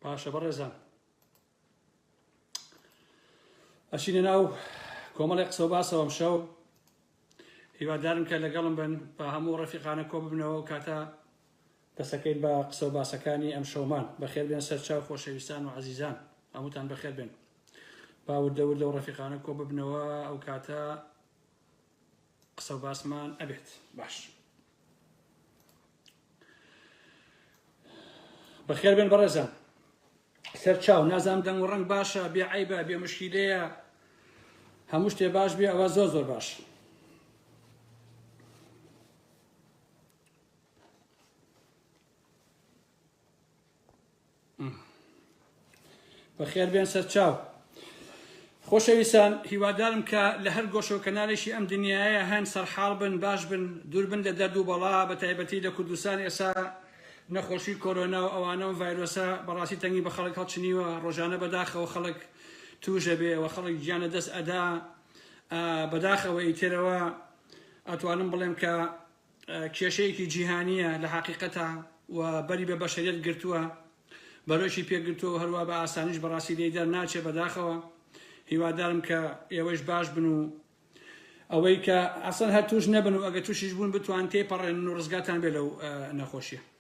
باشە بەڕێزان ئەچینە ناو کۆمەڵی قسە باسەوەم شەو هیوادارم کە لەگەڵم بن بە هەموو ڕەفیقانە کۆ ببنەوە کاتە دەسەکەین بە قسە و باسەکانی ئەم شەومان بەخێر بێن سەرچاو خۆشەویستان و عزیزان هەمووتان بەخێر بێن باوردەور لەو ڕەفیقانە کۆ ببنەوە ئەو کاتە قسە و باسمان ئەبێت باش. بەخێر بێن بەڕێزان سەر چاو نازام دەنگ و ڕەنگ باشە بێ عیبە بێ مشکیلەیە هەموو شتێ باش بێ ئەوە زۆر زۆر باش بەخێر بێن سەرچاو خۆشەویستان هیوادارم کە لە هەر گۆشە و کەنالێکی ئەم دنیاە هەن سەرحاڵ بن باش بن دووربن لە دەرد و بەڵا بە تایبەتی لە کوردستان ئێسا نەخۆشی کۆرۆنا و ئەوانە و ڤایرۆسە بەڕاستی تەنگی بە خەڵک هەڵچنیوە ڕۆژانە بەداخەوە خەڵک توژە بێ و خەڵک گیانە دەست ئەدا بەداخەوە ئیترەوە ئەتوانم بڵێم کە کێشەیەکی جیهانییە لە حەقیقەتا و بەری بە بەشەریەت گرتووە بەرۆکی پێگرتووە و هەروە بە ئاسانیش بەڕاستی لێی دەرناچێ بەداخەوە هیوادارم کە ئێوەش باش بن و ئەوەی کە ئەسەن هەر توش نەبن و ئەگە توشیش بوون بتوان تێپەڕێنن و ڕزگاتان بێ لەو نەخۆشیە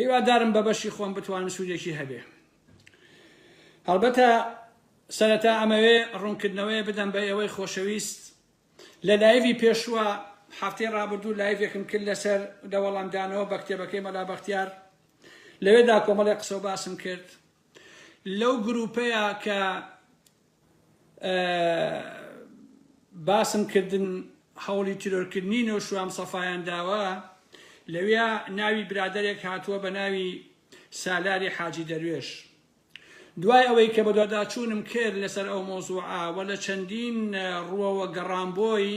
هیوادارم بە بەشی خۆم بتوانم سوودێکی هەبێ. هەڵبەتە سەرەتا ئەمەوێ ڕوونکردنەوەیە بدەم بە ئێوەی خۆشەویست لە لایڤی پێشوە هەفتەی ڕابردوو لایڤێکم کرد لەسەر لە وەڵامدانەوە بە کتێبەکەی مەلا بەختیار لەوێدا کۆمەڵی قسە و باسم کرد لەو گروپەیە کە باسم کردن هەوڵی تیرۆرکردنی نۆشوام سەفایان داوە لەویا ناوی برادەرێک هاتووە بە ناوی سالاری حاجی دەروێش دوای ئەوەی کە بەدواداچوونم کرد لەسەر ئەو مۆزوعە و لە چەندین ڕووەوە گەڕام بۆی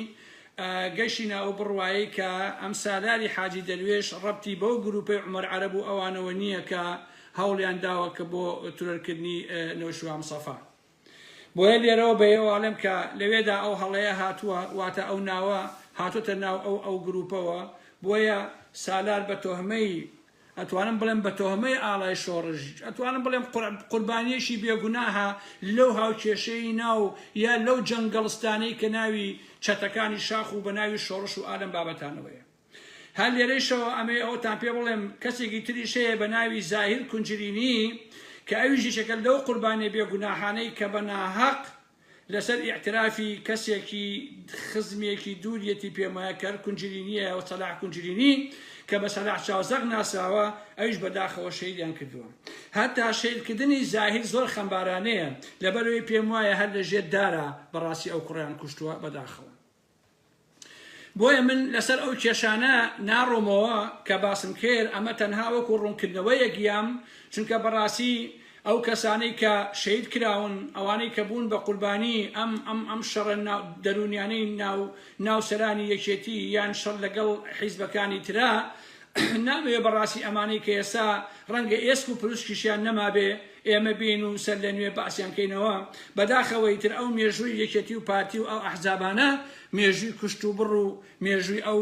گەشتینە ئەو بڕوایەی کە ئەم سالاری حاجی دەروێش ڕەبتی بەو گروپەی عومەر عەرەب و ئەوانەوە نییە کە هەوڵیان داوە کە بۆ ترۆر کردنی نەوشیروان مصەفا بۆیە لێرەوە بە ئێوەڵێم کە لەوێدا ئەو هەڵەیە هاتووە واتە ئەو ناوە هاتۆتە ناو ئەو ئەو گروپەوە بۆیە سالار بە تۆهمەی ئەتوانم بڵێم بە تۆهمەی ئاڵای شۆڕش ئەتوانم بڵێم قوربانیەکی بێ گوناهە لەو هاوکێشەی ناو یا لەو جەنگەڵستانەی کە ناوی چەتەکانی شاخ و بە ناوی شۆڕش و ئالەم بابەتانەوەیە. هەر لێرەیشەوە ئەمەوێ ئەوەتان پێ بڵێم کەسێکی تریش هەیە بە ناوی زاهیر کونجرینی کە ئەویش یەکێکە لەو قوربانیە بێ گوناحانەی کە بە ناهەق لەسەر ئیعترافی کەسێکی خزمێکی دووریەتی پێمایە کەر کونجرینیە و سەلاح کونجرینی کە بە سەلاح چاوزەق ناسراوە ئەویش بەداخەوە شەیدیان کردووە هەتا شەیدکردنی زاهیر زۆر خەمبارانەیە لەبەرەوەی پێم وایە هەر لە ژێر دارە بەڕاستی ئەو کوڕیان کوشتووە بەداخەوە بۆیە من لەسەر ئەو کێشانە ناڕۆمەوە کە باسم کرد، ئەمە تەنها وەکو ڕوونکردنەوەیەک یام، چونکە بەڕاستی ئەو کەسانەی کە شەهید کراون، ئەوانەی کە بوون بە قوربانی ئەم ئەم ئەم شەڕە دەروونیانەی ناو ناو سەرانی یەکێتی یان شەڕ لەگەڵ حیزبەکانی ترا، نامەوێ بەڕاستی ئەمانەی کە ئێستا ڕەنگە ئێسک و پروسکیشیان نەمابێ ئێمە بێین و سەر لە نوێ باسیان کەینەوە، بەداخەوە ئیتر ئەو مێژووی یەکێتی و پارتی و ئەو ئەحزابانە مێژووی کوشت و بڕ و مێژووی ئەو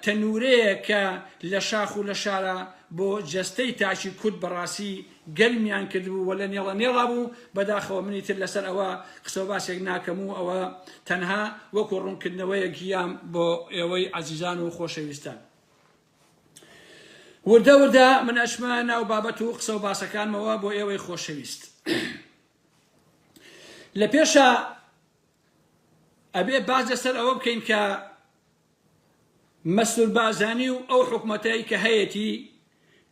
تەنورەیە کە لە شاخ و لە شارە بۆ جەستەی تاکی کورد بەڕاستی گەرمیان کردبوو و لە نێڵە نێڵا بوو، بەداخەوە منی تر لەسەر ئەوە قسە و باسێک ناکەم و ئەوە تەنها وەکو ڕوونکردنەوەیەک یام بۆ ئێوەی عەزیزان و خۆشەویستان. وردە وردە من ئەچمە ناو بابەت و قسە و باسەکانمەوە بۆ ئێوەی خۆشەویست. لە پێشا ئەبێ باس لەسەر ئەوە بکەین کە مەسرور بارزانی و ئەو حکومەتەی کە هەیەتی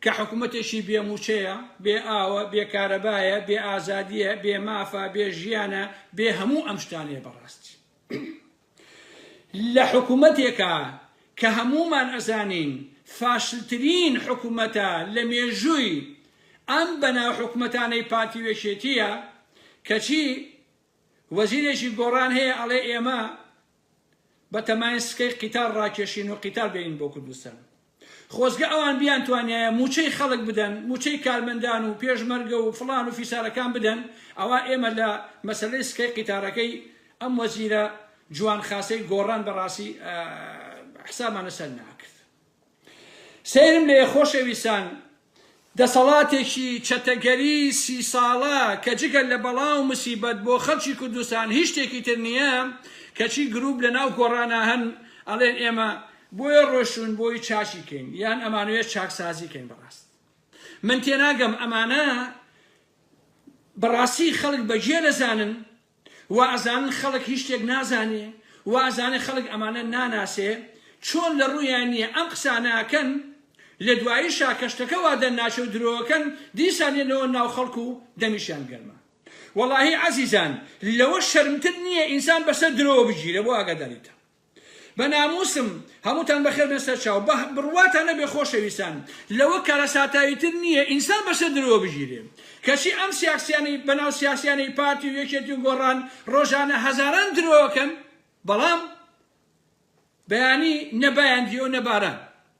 کە حکومەتێکی بێ موچەیە، بێ ئاوە، بێ کارەبایە، بێ ئازادیە، بێ مافە، بێ ژیانە، بێ هەموو ئەم شتانەیە بەڕاستی لە حکومەتێکا کە هەموومان ئەزانین فاشلترین حکومەتە لە مێژووی ئەم بەناو حکومەتانەی پارتی و یەکێتیە کەچی وەزیرێکی گۆڕان هەیە ئەڵێ ئێمە بەتەمایە سکەی قیتار ڕاکێشین و قیتار بێنین بۆ کوردستان. خۆزگە ئەوان بیانتوانیایە مووچەی خەڵک بدەن، مووچەی کارمەندان و پێشمەرگە و فڵان و فیسارەکان بدەن، ئەوا ئێمە لە مەسەلەی سکەی قیتارەکەی ئەم وەزیرە جوان خاسەی گۆڕان بەڕاستی حسابمان لەسەر ناکرد. سەیرم لێیە خۆشەویستان، دەسەڵاتێکی چەتەگەری سی ساڵە کە جگە لە بەڵا و مسیبەت بۆ خەڵکی کوردستان هیچ شتێکی تر نییە، کەچی گرووپ لە ناو گۆڕانا هەن ئەڵێن ئێمە بۆیە ڕۆشتوون بۆی چاکی کەین یان ئەمانوێ چاکسازی کەین بەڕاست من تێناگەم ئەمانە بەڕاستی خەڵک بەگێل ئەزانن وا ئەزانن خەڵک هیچ شتێک نازانێ وا ئەزانن خەڵک ئەمانە ناناسێ چۆن لە ڕوویان نیە ئەم قسانە ئەکەن لە دواییشا کە شتەکە وا دەرناچێ و درۆ ئەکەن دیسان یەنەوە ناو خەڵک و دەمیشیان گەرمە وەڵاهی عەزیزان لەوە شەرمتر نیە ئینسان بەسەر درۆوە بگیرێ بۆ ئاگاداریتان. بە ناموسم هەمووتان بەخێر بێن سەرچاو بە بڕواتان نەبێ خۆشەویستان لەوە کارەساتاویتر نییە ئینسان بەسەر درۆوە بگیرێ کەچی ئەم سیاکسیانەی بەناو سیاسیانەی پارتی و یەکێتی و گۆڕان ڕۆژانە هەزاران درۆ ئەکەن بەڵام بەیانی نە بایان دیۆ نە باران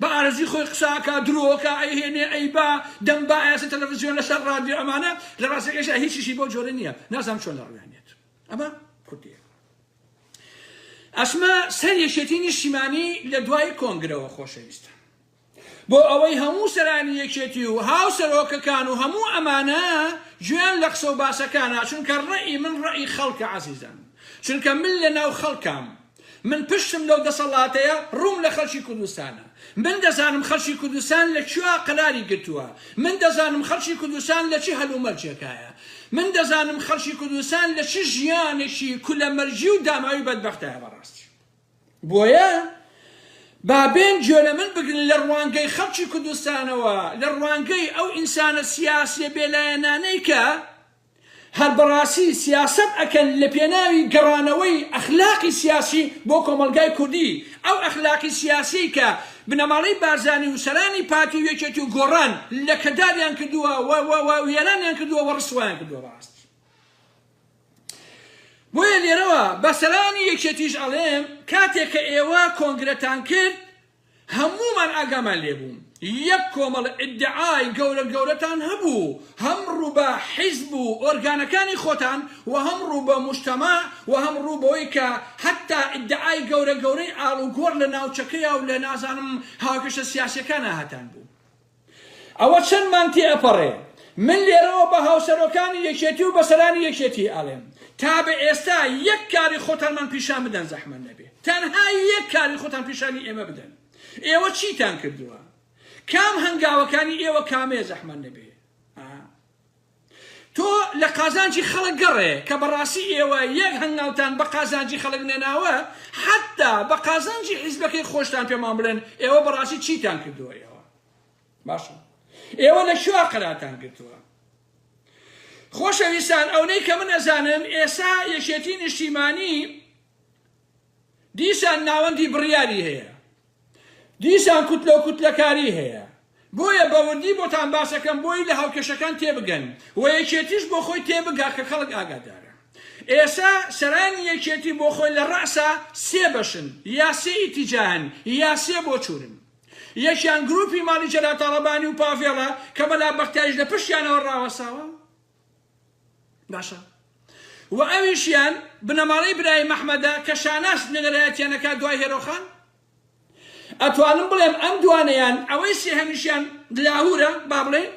بە ئارەزوی خۆی قسە ئەکا درۆ ئەکا ئەیهێنێ ئەیبا دەم با ئەیاسێ تەلەفزیۆن لەسەر ڕادیۆ ئەمانە لە ڕاستەکەیشا هیچیشی بەو جۆرە نییە نازانم چۆن لە ڕویانێت ئەمە کوردیە ئەسمە سەر یەکێتی نیشتیمانی لە دوای کۆنگرەوە خۆشەویستە بۆ ئەوەی هەموو سەرانی یەکێتی و هاو سەرۆکەکان و هەموو ئەمانە گوێیان لە قسە و باسەکانە چونکە ڕێی من ڕێی خەڵکە عەزیزان چونکە من لە ناو خەڵکام من پشتم لەو دەسەڵاتەیە، ڕووم لە خەڵکی کوردستانە. من دەزانم خەڵکی کوردستان لە کوێ قەراری گرتووە. من دەزانم خەڵکی کوردستان لە چ هەلومەرجێکایە. من دەزانم خەڵکی کوردستان لە چ ژیانێکی کولەمەرگی و داماوی بەدبەختایە بەڕاستی. بۆیە با بێن گوێ لە من بگرن لە ڕوانگەی خەڵکی کوردستانەوە، لە ڕوانگەی ئەو ئینسانە سیاسییە بێلایەنانەی کە هەر بەڕاسی سیاسەت ئەکەن لە پێناوی گەڕانەوەی ئەخلاقی سیاسی بۆ کۆمەڵگای کوردی ئەو ئەخلاقی سیاسیەی کە بنەماڵەی بارزانی و سەرانی پارتی و یەکێتی و گۆڕان لە کەداریان کردوە و و و وێرانیان کردوە و ڕسوایان کردوە بەڕاستی بۆیە لێرەوە بە سەرانی یەکێتیش ئەڵێم کاتێک کە ئێوە کۆنگرەتان کرد هەموومان ئاگامان لێ بوو یەک کۆمەڵە ئیدعای گەورە گەورەتان هەبوو هەم ڕوو بە حیزب و ئۆرگانەکانی خۆتان و هەم ڕوو بە موجتەمەع و هەم ڕوو بەوەی کە هەتا ئیدعای گەورە گەورەی ئاڵوگۆڕ لە ناوچەکەیا و لە نازانم هاوکێشە سیاسیەکانا هەتان بوو ئەوە چەندمان تێ ئەپەڕێ. من لێرەوە بە هاوسەرۆکانی یەکێتی و بە سەرانی یەکێتی ئەڵێم، تا بە ئێستا یەک کاری خۆتانمان پیشان بدەن زەحمەت نەبێ. تەنها یەک کاری خۆتان پیشانی ئێمە بدەن. ئێوە چیتان کردووە؟ کام هەنگاوەکانی ئێوە کامەیە زەحمەت نەبێ؟ ئا. تۆ لە قازانجی خەڵک گەڕێ کە بەڕاستی ئێوە یەک هەنگاوتان بە قازانجی خەڵک نەناوە حەتتا بە قازانجی حیزبەکەی خۆشتان پێمان بڵێن ئێوە بەڕاستی چیتان کردووە ئێوە باشە ئێوە لە کوێ قەراتان گرتووە خۆشەویستان ئەونەی کە من ئەزانم ئێسا یەکێتی نیشتیمانی دیسان ناوەندی بڕیاری هەیە، دیسان کوتلە و کوتلەکاری هەیە، بۆیە بە وردی بۆتان باسەکەم بۆی لە هاوکێشەکان تێبگەن و یەکێتیش بۆ خۆی تێبگا کە خەڵک ئاگادارە ئێستا سەرانی یەکێتی بۆ خۆی لە ڕەئسا سێ بەشن یا سێ ئیتیجاهن یا سێ بۆچوونن یەکیان گروپی ماڵی جەلال تاڵەبانی و پاڤێڵە کە مەلا بەختیاریش لە پشتیانەوە ڕاوەستاوە. باشە وە ئەویشیان بنەماڵەی برایم ئەحمەدە کە شاناز نوێنەرایەتیان ئەکات دوای هێرۆ خان؟ ئەتوانم بڵێم ئەم دوانەیان ئەوەی سێهەمیشیان لاهورە با بڵێین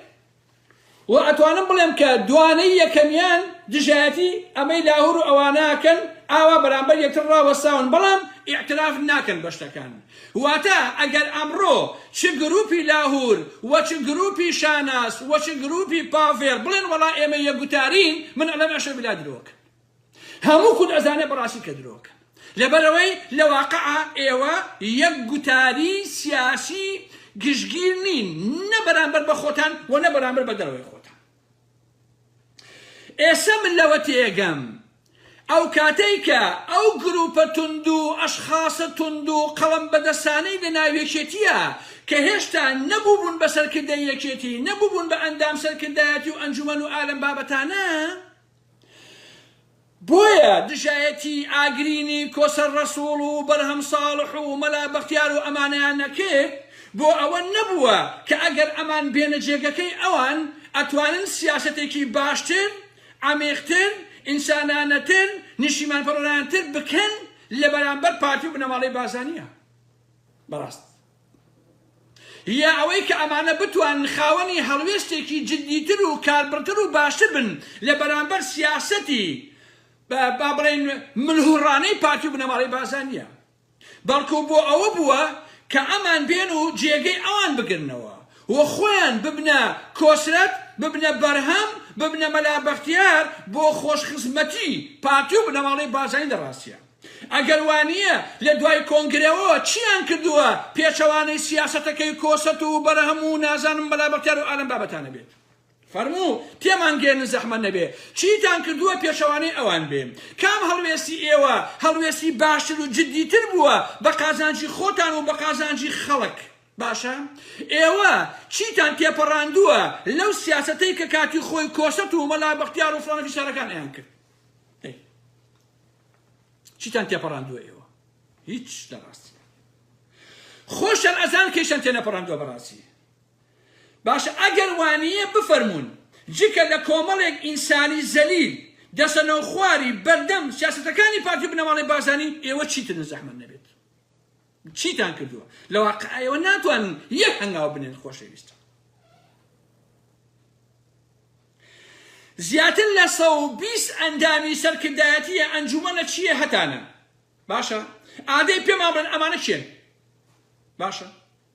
وە ئەتوانم بڵێم کە دوانەی یەکەمیان دژایەتی ئەمەی لاهور و ئەوانە ئەکەن ئاوا بەرامبەر یەکتر ڕاوەستاون بەڵام ئیعتراف ناکەن بە شتەکان واتە ئەگەر ئەمڕۆ چ گرووپی لاهوور و چ گرووپی شاناز و چ گرووپی پاڤێڵ بڵێن وەڵا ئێمە یەکگوتارین، من ئەڵێم ئەشە بلا درۆ ئەکەن. هەموو کورد ئەزانێ بەڕاستی کە درۆ ئەکەن. لەبەرئەوەی لە واقعا ئێوە یەکگوتاری سیاسی گشتگیر نین نە بەرامبەر بە خۆتان و نە بەرامبەر بە دەرەوەی خۆتان. ئێسە من لەوە تێگەم ئەو کاتەی کە ئەو گروپە توندو ئەشخاسە توندو قەڵەم بەدەسانەی لە ناو یەکێتیە کە هێشتا نە بوبون بە سەرکردەی یەکێتی نە بوبون بە ئەندام سەرکردایەتی و ئەنجومەن و ئالەم بابەتانە بۆیە دژایەتیی ئاگرینی کۆسەر ڕەسووڵ و بەرهەم ساڵح و مەلا بەختیار و ئەمانەیان نەکرد، بۆ ئەوە نەبووە کە ئەگەر ئەمان بێنە جێگەکەی ئەوان، ئەتوانن سیاسەتێکی باشتر، عەمیقتر، ئینسانانەتر، نیشتیمانپەروەرانەتر بکەن لە بەرامبەر پارتی و بنەماڵەی بارزانییە. بەڕاست. یە ئەوەی کە ئەمانە بتوانن خاوەنی هەڵوێستێکی جدیتر و کاربڕتر و باشتر بن لە بەرامبەر سیاسەتی با بڵێین ملهوڕانەی پارتی و بنەماڵەی بارزانیە بەڵکو بۆ ئەوە بووە کە ئەمان بێن و جێگەی ئەوان بگرنەوە و خۆیان ببنە کۆسرەت ببنە بەرهەم ببنە مەلا بەختیار بۆ خۆشخزمەتی پارتی و بنەماڵەی بارزانی لە ڕاستیا. ئەگەر وانییە لە دوای کۆنگرەوە چییان کردووە پێچەوانەی سیاسەتەکەی کۆسەرت و بەرهەم و نازانم مەلا بەختیار و ئالەم بابەتانە بێت فەرموو تێمان گێرن زەحمەت نەبێ چیتان کردووە پێچەوانەی ئەوان بێ کام هەڵوێستی ئێوە هەڵوێستی باشتر و جدی تر بووە بە قازانجی خۆتان و بە قازانجی خەڵک باشە ئێوە چیتان تێپەڕاندووە لەو سیاسەتەی کە کاتی خۆی کۆسەرت و مەلا بەختیار و فڵانە فیسارەکان ئەیان کرد ئەی چیتان تێپەڕاندووە ئێوە هیچ لە ڕاستی خۆشتان ئەزان کەیشتان تێنەپەڕاندووە بەڕاستی باشە ئەگەر وانەیە بفەرمونون جکە لە کۆمەڵێک ئینسانی زەلیل دەسەنەو خواری بەردەم سیاستەکانی پارتی بنەماڵی بارزانانی ئێوە چیتر زەحمە نەبێت چیتان کردووە لە واقع ئێوە ناتوانن یەک هەنگاو بنێن خۆشەویستە زیاتر لە سە و بیست ئەندامی سەرکردایەتیە ئەنجومەنە چیە هەتانە باشە ئادەی پێمان بن ئەمانە چێن باشە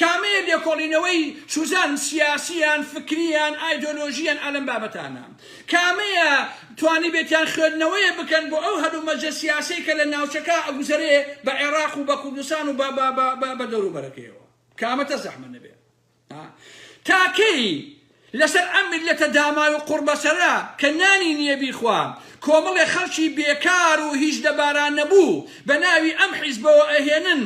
کامەیە لێکۆڵینەوەی چوزان سیاسی یان فکری یان ئایدۆلۆژی یان ئالەم بابەتانە کامەیە توانیبێتیان خوێدنەوەیە بکەن بۆ ئەو هەلومەجە سیاسەی کە لە ناوچەکە ئەگوزەرێ بە عێراق و بە کوردستان و بە بە بە بە دەوروبەرەکەیەوە کامە تە زەحمە نەبێ تا کەی لەسەر ئەم میللەتە داماو و قوڕبەسەرە کە نانی نیە بیخوا، کۆمەڵێ خەڵکی بێکار و هیچ لەبارانەبوو بە ناوی ئەم حیزبەوە ئەهێنن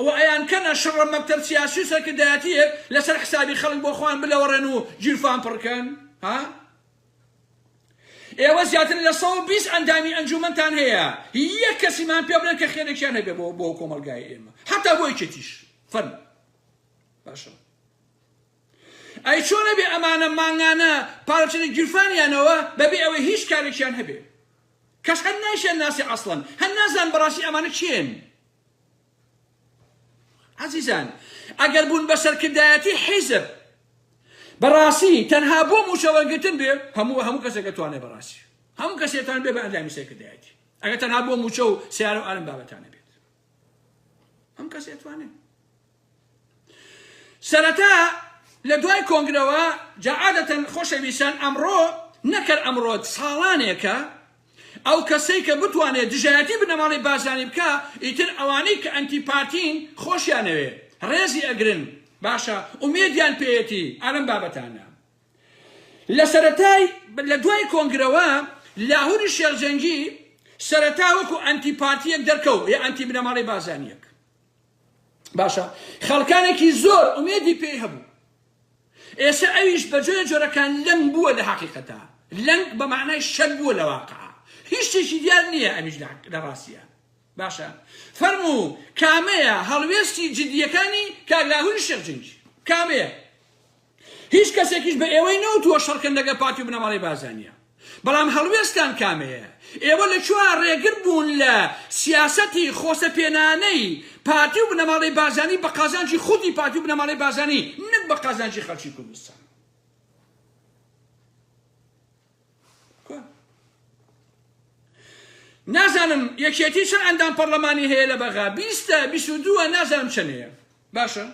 و ئەیانکەنە شڕە مەکتەب سیاسی و سەرکردایەتیەک لەسەر حسابی خەڵک بۆ خۆیان بلەوەڕێن و گیرفان پڕ کەن. ها؟ ئێوە زیاتر لە سەد و بیست ئەندامی ئەنجومەنتان هەیە، یەک کەسیمان پێ بلێن کە خێرێکیان هەبێ بۆ کۆمەڵگای ئێمە، حەتا بۆ یەکێتیش. فەرموو. باشە. ئەی چۆن ئەبێ ئەمانە مانگانە پارەبچێتە گیرفانیانەوە بەبێ ئەوەی هیچ کارێکیان هەبێ کەس هەر نایشیان ناسێ ئەسڵەن هەر نازان بەڕاستی ئەمانە کێن عزیزان ئەگەر بوون بە سەرکردایەتی حیزب بەڕاستی تەنها بۆ موچە وەرگتن بێ هەموو هەموو کەسێکە توانێ بەڕاستی هەموو کەسێتان بێ بە ئەندامی سەرکردایەتی ئەگەر تەنها بۆ موچە و سیارە و ئارم بابەتانە بێت ئەم کەس ئەتوانێ سەرەتا لە دوای کۆنگرەوە جەعادەتەن خۆشەویستان ئەمڕۆ نەکەر ئەمڕۆ ساڵانێکە ئەو کەسەی کە بتوانێت دژایەتی بنەماڵی بازانی بکە ئیتر ئەوانەی کە ئەنتی پارتین خۆشیانەوێ ڕێزی ئەگرن باشە ئومێدیان پێیەتی ئالم بابەتانە لە سەرەتای لە دوای کۆنگرەوە لاهوری شێخ جەنگی سەرەتا وەکو ئەنتی پارتیەک دەرکەوت یە ئەنتی بنەماڵەی بازانیەک باشە خەڵکانێکی زۆر ئومێدی پێی هەبوو ئێستا ئەویش بە جۆرە جۆرەکان لەنگ بووە لە حقیقەتە لەنگ بە معنای شەر بووە لە واقع هیچ شتێکی دیار نییە ئەمیش لە ڕاستیە باشە فەرموو کامەیە هەڵوێستی جدیەکانی کاک لاهوری شێخ جەنگی؟ کامەیە؟ هیچ کەسێکیش بە ئێوەی نەوتووە شەڕکەن لەگەڵ پارتی و بنەماڵەی بارزانیە بەڵام هەڵوێستان کامەیە؟ ئێوە لە کوێ ڕێگر بوون لە سیاسەتی خۆسە پێنانەی پارتی و بنەماڵەی بارزانی بە قازانجی خودی پارتی و بنەماڵەی بارزانی نەک بە قازانجی خەڵکی کوردستان؟ نازانم یەکێتی چەند ئەندام پەرلەمانی هەیە لە بەغا بیستە بیست و دووە نازانم چەنەیە باشە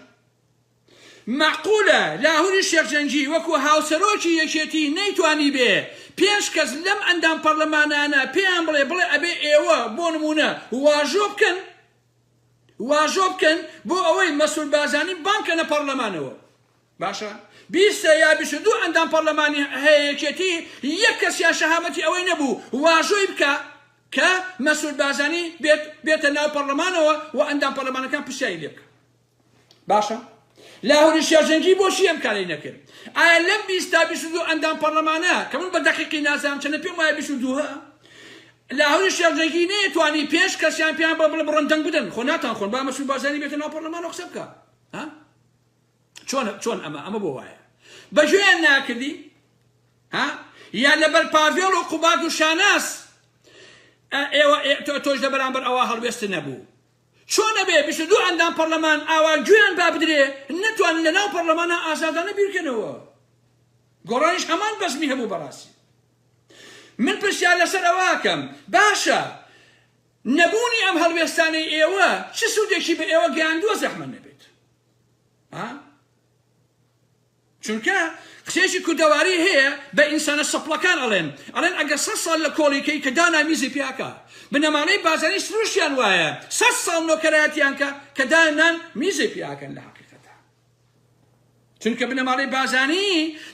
معقولە لاهوری شێخجەنگی وەکو هاوسەرۆکی یەکێتی نەیتوانی بێ پێنج کەس لەم ئەندام پەرلەمانانە پێیان بڵێ بڵێ ئەبێ ئێوە بۆ نمونە واژۆ بکەن واژۆ بکەن بۆ ئەوەی مەسول بازانی بانکە لە پەرلەمانەوە باشە بیست سێ یا بیست و دوو ئەندام پەڕلەمانی هەیە یەکێتی یەک کەسیان شەهامەتی ئەوەی نەبوو واژۆی بکا کە مەسرور بارزانی بێت بێتە ناو پەڕلەمانەوە و ئەندام پەڕلەمانەکان پرسیاری لێ بکەن باشە لاهوری شێرزەنگی بۆچی ئەم کارەی نەکرد ئایا لەم بیست تا بیست و دوو ئەندام پەڕلەمانە کە من بە دەقیقی نازانم چەنە پێم وایە بیست و دووە لاهوری شێرزەنگی نەیەتوانی پێنج کەسیان پێیان بە بڵێ بڕۆن دەنگ بدەن خۆ ناتان خۆن با مەسرور بارزانی بێتە ناو پەڕلەمانەوە قسە بکا ها چۆن چۆن ئەمە ئەمە بۆ وایە بەژێیان ناکردی ها یا لەبەر پاڤێڵ و قوباد و شاناس ئێوە تۆش لە بەرامبەر ئەوە هەڵوێست نەبوو چۆنە بێ بیست دوو ئەندام پەرلەمان ئاوا گوێیان با بدرێ نەتوان لە ناو پەرلەمانە ئازادانە بیرکەنەوە گۆڕانیش هەمان بەزمی هەبوو بەڕاستی من پرسیار لەسەر ئەوەکەم باشە نەبوونی ئەم هەڵوێستانەی ئێوە چ سوودێکی بە ئێوە گەیاندووە زەحمە نەبێت چونکە قسەیەکی کوردەواری هەیە بە ئینسانە سەپڵەکان ئەڵێن ئەڵێن ئەگەر سەد ساڵ لە کۆڵیکەی کە دانا میزی پیاکە بنەماڵەی بازانی سروشیان وایە سەد ساڵ نۆکەرایەتیان کە کە دانان میزی پیاکەن لە حقیقەتە چونکە بنەماڵەی بازانی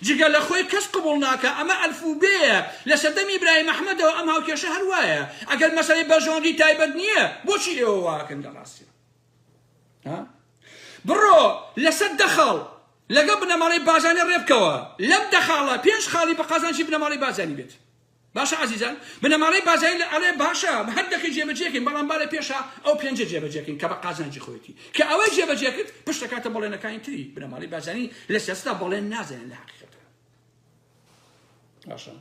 جگە لە خۆی کەس قبول ناکە ئەمە ئەلفوبەیە لە سەردەم ئیبراهیم ئەحمەدەوە ئەم هاوکێشە هەر وایە ئەگەر مەسەلەی بەرژەوەندی تایبەت نییە بۆچی ئێوە واکەن لە ڕاستیە بڕۆ لەسەر دە خاڵ لەگەڵ بنەماڵەی بازانە ڕێبکەوە لەم دە خاڵە پێنج خاڵی بە قازانجی بنەماڵەی بازانی بێت باشە عزیزان بنەماڵەی بازایی لە ئەڵێ باشە هەر دەخی جێبەجێکەین بەڵام با لە پێشە ئەو پێنجە جێبەجێکەین کە بە قازانجی خۆیەتی کە ئەوەی جێبەجێکرد پشتەکاتە بەڵێنەکانی تری بنەماڵەی بازانی لە سیاستا بەڵێن نازانن لە حقیقەت باشە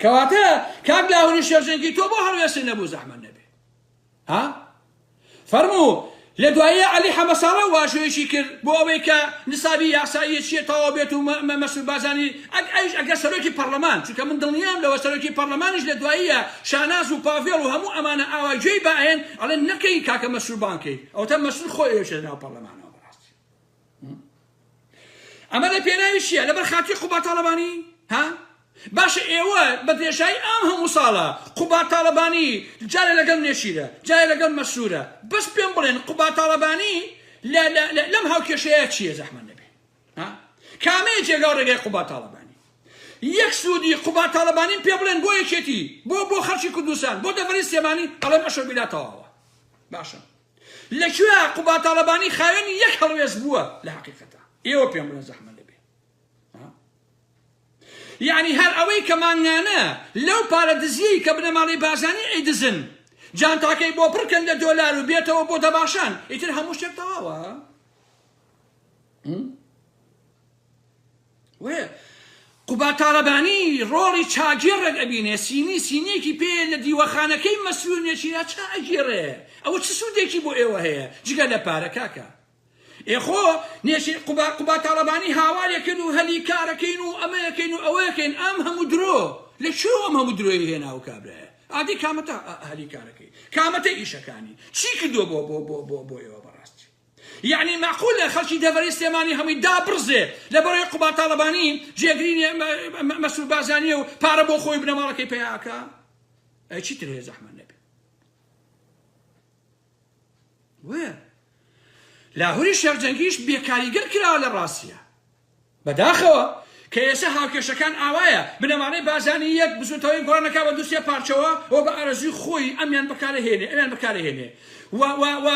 کەواتە کاک لاهوری شێرزەنگی تۆ بۆ هەڵوێستی نەبوو زەحمە نەبێ ها؟ فەرموو، لە دواییە عەلی حەمەساڵە واژۆیەکی کرد بۆ ئەوەی کە نسابی یاساییە چییە تەواو بێت و مەسرور بارزانی ئەگ ئەویش ئەگەر سەرۆکی پەڕلەمان چونکە من دڵنیام لەوە سەرۆکی پەڕلەمانیش لە دواییە شاناز و پاڤێڵ و هەموو ئەمانە ئاوا گوێی بائەیەن ئەڵێن نەکەی کاکە مەسرور بانگ کەی ئەوەتا مەسرور خۆی ئەیۆشێتە ناو پەڕلەمانەوە بەڕاستی ئەمە لە پێناوی چییە لەبەر خاکی قوبا تاڵەبانی ها باشە ئێوە بە درێژایی ئام هەموو ساڵە قوبا تاڵەبانی جارە لەگەڵ نێچیرە جارە لەگەڵ مەسوورە بەس پێم بڵێن قوبا تاڵەبانی لەم هاوکێشەیە چییە زەحمە نەبێ کامەیە جێگا ڕێگای قوبا تاڵەبانی یەک سوودی قوبا تاڵەبانی پێ بڵێن بۆ یەکێتی بۆ بۆ خەرچی کوردستان بۆ دەبەری سێمانی ئەڵێ مەشە بیلا تەواوە باشە لە کوێ قوباد تاڵەبانی خاوێنی یەک هەڵوێست بووە لە هەقیقەتا ئێوە پێم بڵێن زەحمە لەبێ ها؟ یعنی هەر ئەوەی کە مانگانە لەو پارە دزیەی کە بنەماڵەی بارزانی ئەیدزن جانتاکەی بۆ پڕکەن لە دۆلار و بێتەوە بۆ دەباشان ئیتر هەموو شتێک تەواوە وەێ قوباد تاڵەبانی ڕۆڵی چاگی ڕێک ئەبینێ سینی سینیەکی پێ لە دیوەخانەکەی مەسرور نێچیرا چا ئەگێڕێ ئەوە چ سودێکی بۆ ئێوە هەیە جگە لە پارە کاکە ئێ خۆ نێچیر قوباد قوباد تاڵەبانی هاوارێکن و هەلی کارەکەین و ئەمەیەکەین و ئەوەیەکەین ئەم هەموو درۆ لە کوێوە ئەم هەموو درۆی هێنا و کابرایە ئادی کامەتە هەلی کارەکەی کامەتە ئیشەکانی چی کردووە بۆ بۆ بۆ بۆ بۆ ئێوە بەڕاستی یەعنی مەعقولە خەڵکی دەڤەری سلێمانی هەمووی دابڕزێ لەبەرەی قوباد تاڵەبانی جێگری مەسرور بارزانیە و پارە بۆ خۆی و بنەماڵەکەی پەیا ئەکا ئەی چی تر هەیە زەحمەت نەبێ وێ لاهوری شێخ جەنگیش بێکاریگەر کراوە لە ڕاستیە بەداخەوە کە ئێسە هاوکێشەکان ئاوایە، بنەمانەی بازانی یەک بزوتەوەی گۆڕان دەکا بە دوسێ پارچەوە و بە ئارەزوی خۆی ئەمیان بەکارەهێنێ ئەمیان بەکارەهێنێ و و و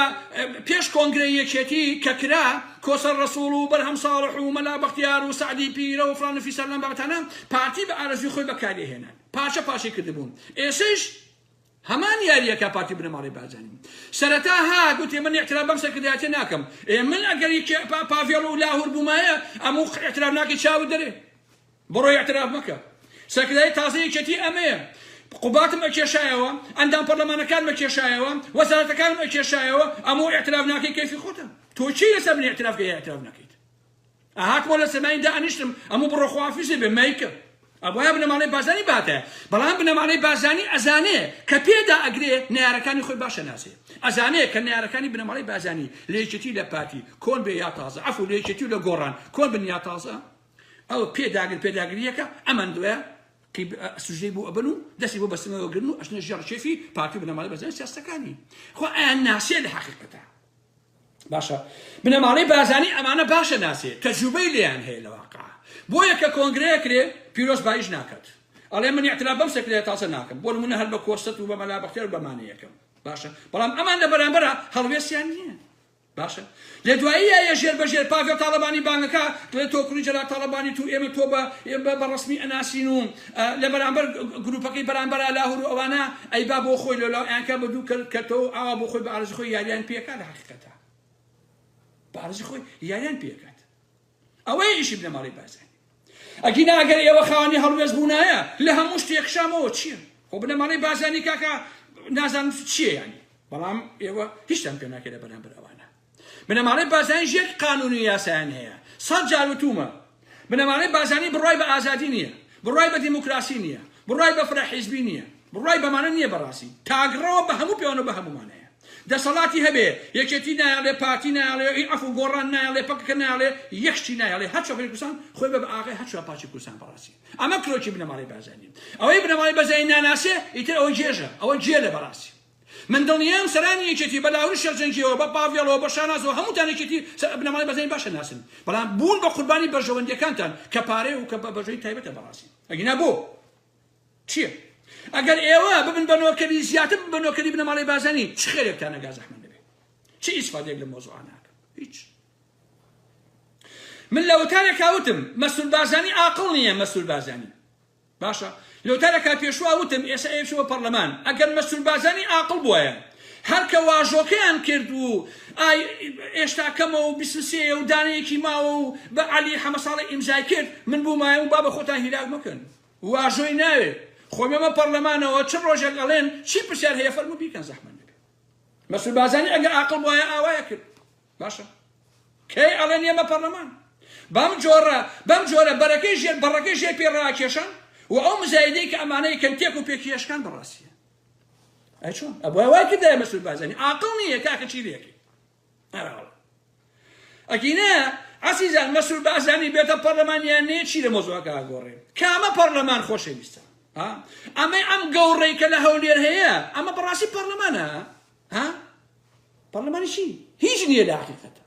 پێش کۆنگرەی یەکێتی کە کرا کۆسەر رەسوڵ و بەرهەم ساڵح و مەلا بەختیار و سەعدی پیرە و فلان و فیسار لەم بابەتانە پارتی بە ئارەزوی خۆی بەکاریەهێنان پارچە پارچەی کردبون ئێسەیش هەمان یاریە کا پارتی بنەماڵەی بارزانی سەرەتا ها گوتی من اعتراف بەم سەرکردایەتیە ناکەم ئێ من ئەگەر پاڤێڵ و لاهور بومایە ئەموو اعتراف ناکەی چاوت دەرێ بڕۆ اعتراف مەکە سەرکردای تازە یەکێتی ئەمەیە قوباتم ئەکێشایەوە ئەندام پەرلەمانەکانم ئەکێشایەوە وەزارەتەکانم ئەکێشایەوە ئەموو اعتراف ناکەی کەیفی خۆتە تۆ چی لەسەر من اعتراف کەی اعتراف نەکەیت ئەهاتمەوە لە سەرماین دائەنیشتم ئەموو بڕۆ خواحافیزێ بێ مەیکە ئەبوایە بنەماڵەی بازانی باتە بەڵام بنەماڵەی بازانی ئەزانێ کە پێدا ئەگرێ نەیارەکانی خۆی باشە نازێ ئەزانێ کە نەیارەکانی بنەماڵەی بازانی لە یەکێتی لە پارتی کۆن بێ یا تازە عەفو لە یەکێتی و لە گۆڕان کۆن بن یا تازە ئەو پێداگر پێداگریەکە ئەمان دوێ سوژەی بۆ ئەبن و دەستی بۆ بەسنەوە گرن و ئەشنە ژێڕ شێفی پارتی بنەماڵەی بەزای سیاستەکانی خۆ ئەیان ناسێ لە حەقیقەتە باشە بنەماڵەی بارزانی ئەمانە باشە ناسێ تەجروبەی لێیان هەیە لە واقع بۆیە کە کۆنگرەیە کرێ پیرۆز بایش ناکات ئەڵێ من اعتراف بەم سەکرەیە تاسە ناکەم بۆ نمونە هەر بە کۆستەت و بە مەلا بەختیار و بەمانە یەکەم باشە بەڵام ئەمان لە بەرامبەرە هەڵوێستیان نییە باشە لە دواییە ژێر بە ژێر پاڤێ تاڵەبانی بانگەکە دڵێ تۆ کوڕی جەلال تاڵەبانی تو ئێمە تۆ بە بە ڕسمی ئەناسین و لە بەرامبەر گروپەکەی بەرامبەرا لاهور و ئەوانە ئەی با بۆ خۆی لۆلاو ئەیانکا بە دوو کەل کەتەوەو ئاوا بۆ خۆی بە ئارەزی خۆی یاریان پێ ئەکا لە حەقیقەتا بە ئارەزی خۆی یاریان پێ ئەکات ئەوەیە ئیشی بنەماڵەی بارزانی ئەگینا ئەگەر ئێوە خاوەنی هەڵوێست بوونایە لە هەموو شتێک شامەوە چییە خۆ بنەماڵەی بارزانی کاکە نازانم چییە یانی بەڵام ئێوە هیچتان پێ ناکرێت بەرامبەر ئەوانە بنەماڵەی بارزانیش یەک قانون و یاسایان هەیە، سەد جار وتوومە، بنەماڵەی بارزانی بڕوای بە ئازادی نییە، بڕوای بە دیموکراسی نییە، بڕوای بە فرە حیزبی نییە، بڕوای بەمانە نییە بەڕاستی، تاکڕەوە بە هەموو پێوەنە و بە هەموومان هەیە. دەسەڵاتی هەبێ، یەکێتی نایەڵێ، پارتی نایەڵێ، ی عەفو، گۆڕان نایەڵێ، پەکەکە نایەڵێ، یەک شتی نایەڵێ، هەر چوار پارچەی کوردستان خۆی بە بە ئاغای هەر چوار پارچەی کوردستان بەڕاستی. ئەمە کرۆکی بنەماڵەی بارزانییە. ئەوەی بنەماڵەی بەرزانی ناناسێ، ئیتر ئەوە گێژە، ئەوە گێلە بەڕاستی. من دڵنیام سەرانی یەکێتی بە لاهور شێخجەنگیەوە بە پاڤێڵەوە بە شانازەوە هەمووتان یەکێتی سەر بنەماڵەی بەرزانی باشە ناسن بەڵام بوون بە قوربانی بەرژەوەندیەکانتان کە پارەیە و کە بە بەرژەوەندی تایبەتە بەڕاستی ئەگینا بۆ چیە ئەگەر ئێوە ببن بە نۆکەری زیاتر ببن بە نۆکەری بنەماڵەی بازانی چ خێرێکتان نەگا زەحمەت نەبێ چ ئیسفادەیەک لە مۆزوعە ناکەم هیچ من لە وتارێکا وتم مەسرور بازانی ئاقڵ نییە مەسرور بازانی باشە لۆتە لە کاک پێشوا وتم ئێسە ئەیەچوو بە پەڕلەمان ئەگەر مەسرور بارزانی ئاقڵ بوایە هەر کە واژۆکەیان کرد و ئای ئێشتا کەمە و بیست و سێیە و دانەیەکی ماوە و بە عەلی حەمە ساڵح ئیمزای کرد من بومایە و با بە خۆتان هیلاک مەکەن واژۆی ناوێ خۆ مەمە پەڕلەمانەوە چ ڕۆژێک ئەڵێن چی پرسیار هەیە فەرموو بیکەن زەحمەت نەبێ مەسرور بارزانی ئەگە ئاقڵ بوایە ئاوایە کرد باشە کەی ئەڵێن ئێمە پەڕلەمان بەم جۆرە بەم جۆرە بەرەکەی ژێر بەڕەکەی ژێر پێ ڕاکێشان و ئەو مزایدەی کە ئەمانە یەکەن تێک و پێکی هێشکان بەڕاستیە ئەی چۆن ئەبووە وای کردای مەسول بازەنی ئاقڵ نییە کاکە چی لێکی هەراوە ئەگینە عزیزان مەسول بازانی بێتە پەرلەمانیان نێ چی لە مۆزۆکە گۆڕێ کامە پەرلەمان خۆشەویستە ئەمەی ئەم گەوڕێکە لە هەولێر هەیە ئەمە بەڕاستی پەرلەمانە ها پەڕلەمانی چی هیچ نییە لە حقیقەتە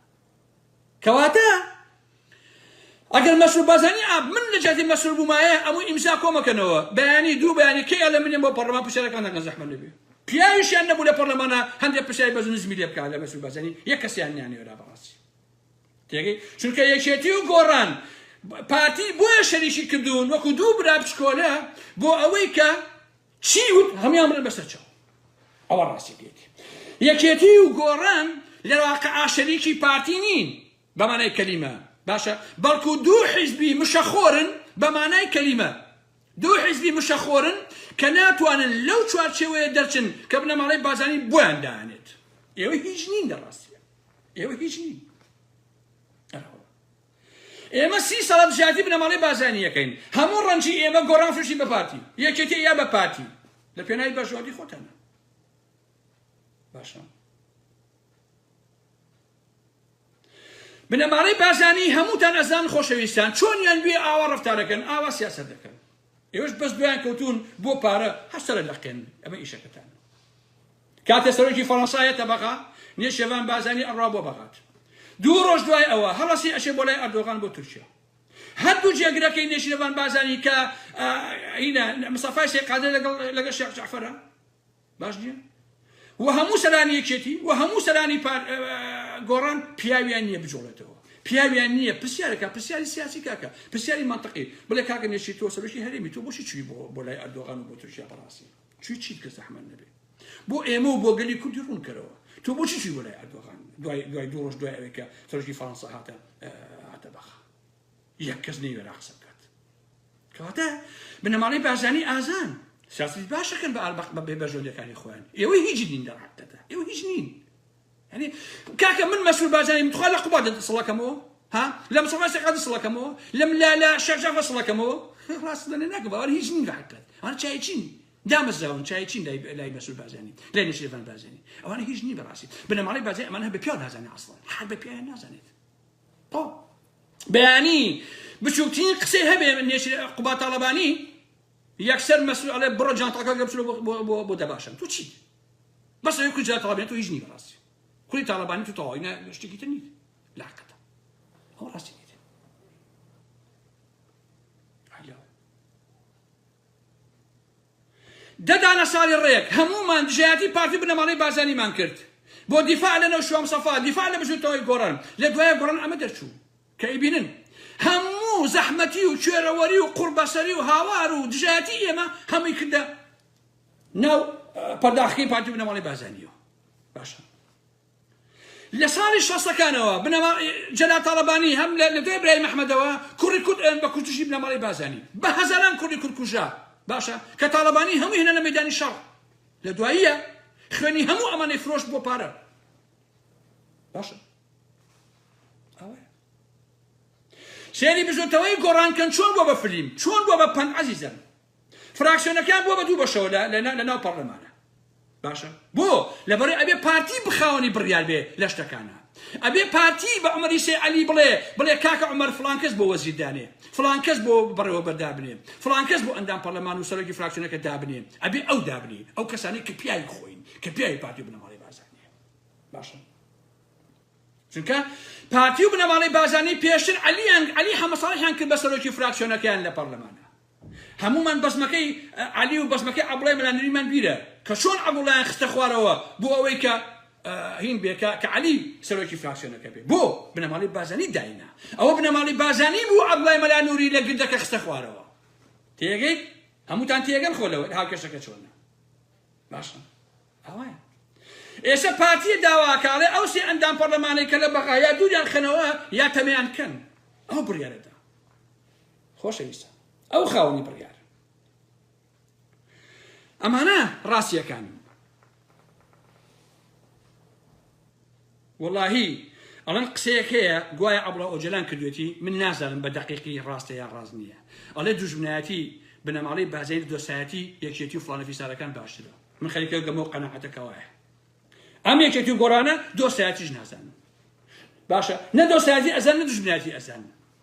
کەواتە ئەگەر مەسرور بازانی ئاب من لە جاتی مەسرور بوومایە ئەموو ئیمزا کۆمەکەنەوە بەیانی دوو بەیانی کەی ئەڵێ منێن بۆ پەڕلەمان پرسیارەکان ناکەن زەحمە نەبێ پیاویشیان نەبوو لە پەڕلەمانە هەندێک پرسیاری بەز نزمی لێ بکات لە مەسرور بازانی یەک کەسیان نیانێرا بەڕاستی تێگەی چونکە یەکێتی و گۆڕان پارتی بۆیە شەریکی کردوون وەکو دوو برا بچکۆلە بۆ ئەوەی کە چی وت هەمویان بڵێن بەسەر چاو ئەوە ڕاستیەکەیەتی یەکێتی و گۆڕان لە واقعا شەریکی پارتی نین بە مانای کەلیمە باشە بەڵکو دوو حیزبی مشەخۆرن بە مانای کەلیمە دوو حیزبی مشەخۆرن کە ناتوانن لەو چوارچێوەیە دەرچن کە بنەماڵەی بازانی بۆیان دانێت ئێوە هیچ نین لە ڕاستیە ئێوە هیچ نین ئێمە سی ساڵە دژایەتی بنەماڵەی بارزانی یەکەین هەموو ڕەنجی ئێمە گۆڕان فرۆشی بە پارتی یەکێتی یا بە پارتی لە پێناوی بەرژەوەندی خۆتانە باشە بنەماڵەی بارزانی هەمووتان ئەزان خۆشەویستان چۆنیان بێ ئاوا ڕەفتارەکەن ئاوا سیاسەت دەکەن ئێوەش بەس دوایان کەوتون بۆ پارە هەر سەرە لەقێن ئەمە ئیشەکەتانە کاتێ سەرۆکی فەرەنسا یەتە بەغا نیە شێڤان بازانی ئەڕا بۆ بەغات دوو ڕۆژ دوای ئەوە هەڵەسی ئەشێ بۆ لای ئەردۆغان بۆ تورکیا هەردوو جێگرەکەی نێشیرەڤان بازانی کە ئینە مسەفای شێخ قادر لەگەڵ لەگەڵ شێخ جەعفەرە باش نیە؟ وە هەموو سەرانی یەکێتی وە هەموو سەرانی پار گۆڕان پیاویان نیە بجۆڵێتەوە پیاویان نییە پرسیارەکە پرسیاری سیاسی کاکە پرسیاری منطقی بڵێ کاکە نێشی تۆ سەرۆکی هەرێمی تۆ بۆشی چوی بۆ بۆ لای ئەردۆغان و بۆ تورکیا بەڕاستی چی چیت کە زەحمەت نەبێ بۆ ئێمە و بۆ گەلی کوردی ڕوونکەرەوە تۆ بۆچی چی بۆ لای ئەردۆغان دوای دوای دوو ڕۆژ دوای ئەوێکە سەرۆکی فەڕەنسا هاتە هاتە بەخ یەک کەس نەیوێرا قسە بکات کەواتە بنەماڵەی بارزانی ئازان سیاسی باشەکەن بە ئاربق بە بێ بەژۆلیەکانی خۆیان ئێوەی هیچ نین لە ڕاکتەدا ئێوە هیچ نین یعنی کاکە من مەسول بازانیم تخوا لە قوبا دەسڵەکەمەوە ها لەم سەما سەقا دەسڵەکەمەوە لەم لا لە شەرجا بەسڵەکەمەوە ڕاست دەنێ ناکە باوەر هیچ نین لە حکات هەر چای چین دامەزراون چای چین لای لای مەسول بازانی لای نشێفان بازانی ئەوانە هیچ نی بەڕاستی بنەماڵی بازی ئەمان هە بە پیاو نازانێت ئەسڵان حال بە پیاویان نازانێت بەیانی بچووکترین قسەی هەبێ نێچیر قوبا تاڵەبانی یەکسەر مەسرور ئەڵێ بڕۆ جانتاکە گەر بچلو بۆ دەباشن تو چی بەس ئەوێ کو جا تاڵەبانی تو هیچ نی بەڕاستی کوری تاڵەبانی تو تەواوی نە شتێکی تر نیت لاقەتە ئەو ڕاستی دە دانە ساڵی ڕێک هەموومان دژایەتی پارتی و بنەماڵەی بارزانیمان کرد بۆ دیفاع لە نەوشیروان مستەفا، دیفاع لە بزوتنەوەی گۆڕان، لە دوایە گۆڕان ئەمە دەرچوو کە ئەیبینن هەموو زەحمەتی و کوێرەوەری و قوڕبەسەری و هاوار و دژایەتی ئێمە هەمووی کردە ناو پەرداخەکەی پارتی و بنەماڵەی بارزانیەوە باشە. لە ساڵی شەستەکانەوە بنەما جەلال تاڵەبانی هەم لە لە دوای برایم ئەحمەدەوە کوڕی کورد ئەوێن بە کوردیی بنەماڵەی بازانی بە هەزاران کوردی کورد کوژرا باشە کە تاڵەبانی هەمووی هێنا لە مەیدانی شەڕ لە دواییە خوێنی هەموو ئەمانەی فرۆشت بۆ پارە باشە سێری بزوتەوەی گۆڕان کەن چۆن بۆ بە فلیم چۆن بۆ بە پەن عزیزم فراکسیۆنەکان بوە بە دوو بەشەوە لە لە لە ناو پەڕلەمانە باشە بۆ لەبەڕێ ئەبێ پارتی بخاوەنی بڕیار بێ لە شتەکانە ئەبێ پارتی بە عمەری سێ علی بڵێ بڵێ کاکە عمەر فلانکەس بۆ وەزیر دانێ فلانکەس بۆ بڕێوە بەردابنێ فلانکەس بۆ ئەندام پەرلەمان و سەرۆکی فراکسیۆنەکە دابنێ ئەبێ ئەو دابنی ئەو کەسانی کە پیاوی خۆین کە پیاوی پارتی بنەماڵی بازانێ باشە چونکە پارتی و بنەماڵی بازانی پێشتر علیان علی حەمەساڵحیان کرد بە سەرۆکی فراکسیۆنەکەیان لە پەرلەمانە هەموومان بەزمەکەی عەلی و بەزمەکەی عەبڵای مەلا نەوینمان بیرە کە چۆن عەبڵایان خستە خوارەوە بۆ ئەوەی کە هین بێ کە کە عەلی سەرۆکی فراکسیۆنەکە بێ بۆ بنەماڵەی بازانی داینا ئەوە بنەماڵەی بازانی بوو عەبڵای مەلا نوری لە گردەکە خستە خوارەوە تێگەیت هەمووتان تێگەن خۆ لەوە هاوکێشەکە چۆنە باشە ئەوەیە ئێستا پارتیە داواکاڵێ ئەو سێ ئەندام پەرلەمانەی کە لە بەغا یا دووریان خەنەوە یا تەمیان کەن ئەو بڕیارەدا خۆشەویستان ئەو خاونی بڕیار ئەمانە ڕاستیەکان وەڵاهی ئەڵەن قسەیەک هەیە گوایە ئەبڵە ئۆجلان کردوێتی من نازانم بە دقیقی ڕاستە یا ڕاز نییە ئەڵێ دوژمنایەتی بنەماڵی بازین دۆسایەتی یەکێتی و فلانەفی سارەکان باشترە من خەریکە گەمە و قەنەعەتەکەوایە ئەم یەکێتی و گۆڕانە دۆسایەتیش نازانم باشە نە دۆسایەتی ئەزان نە دوژمنایەتی ئەزانم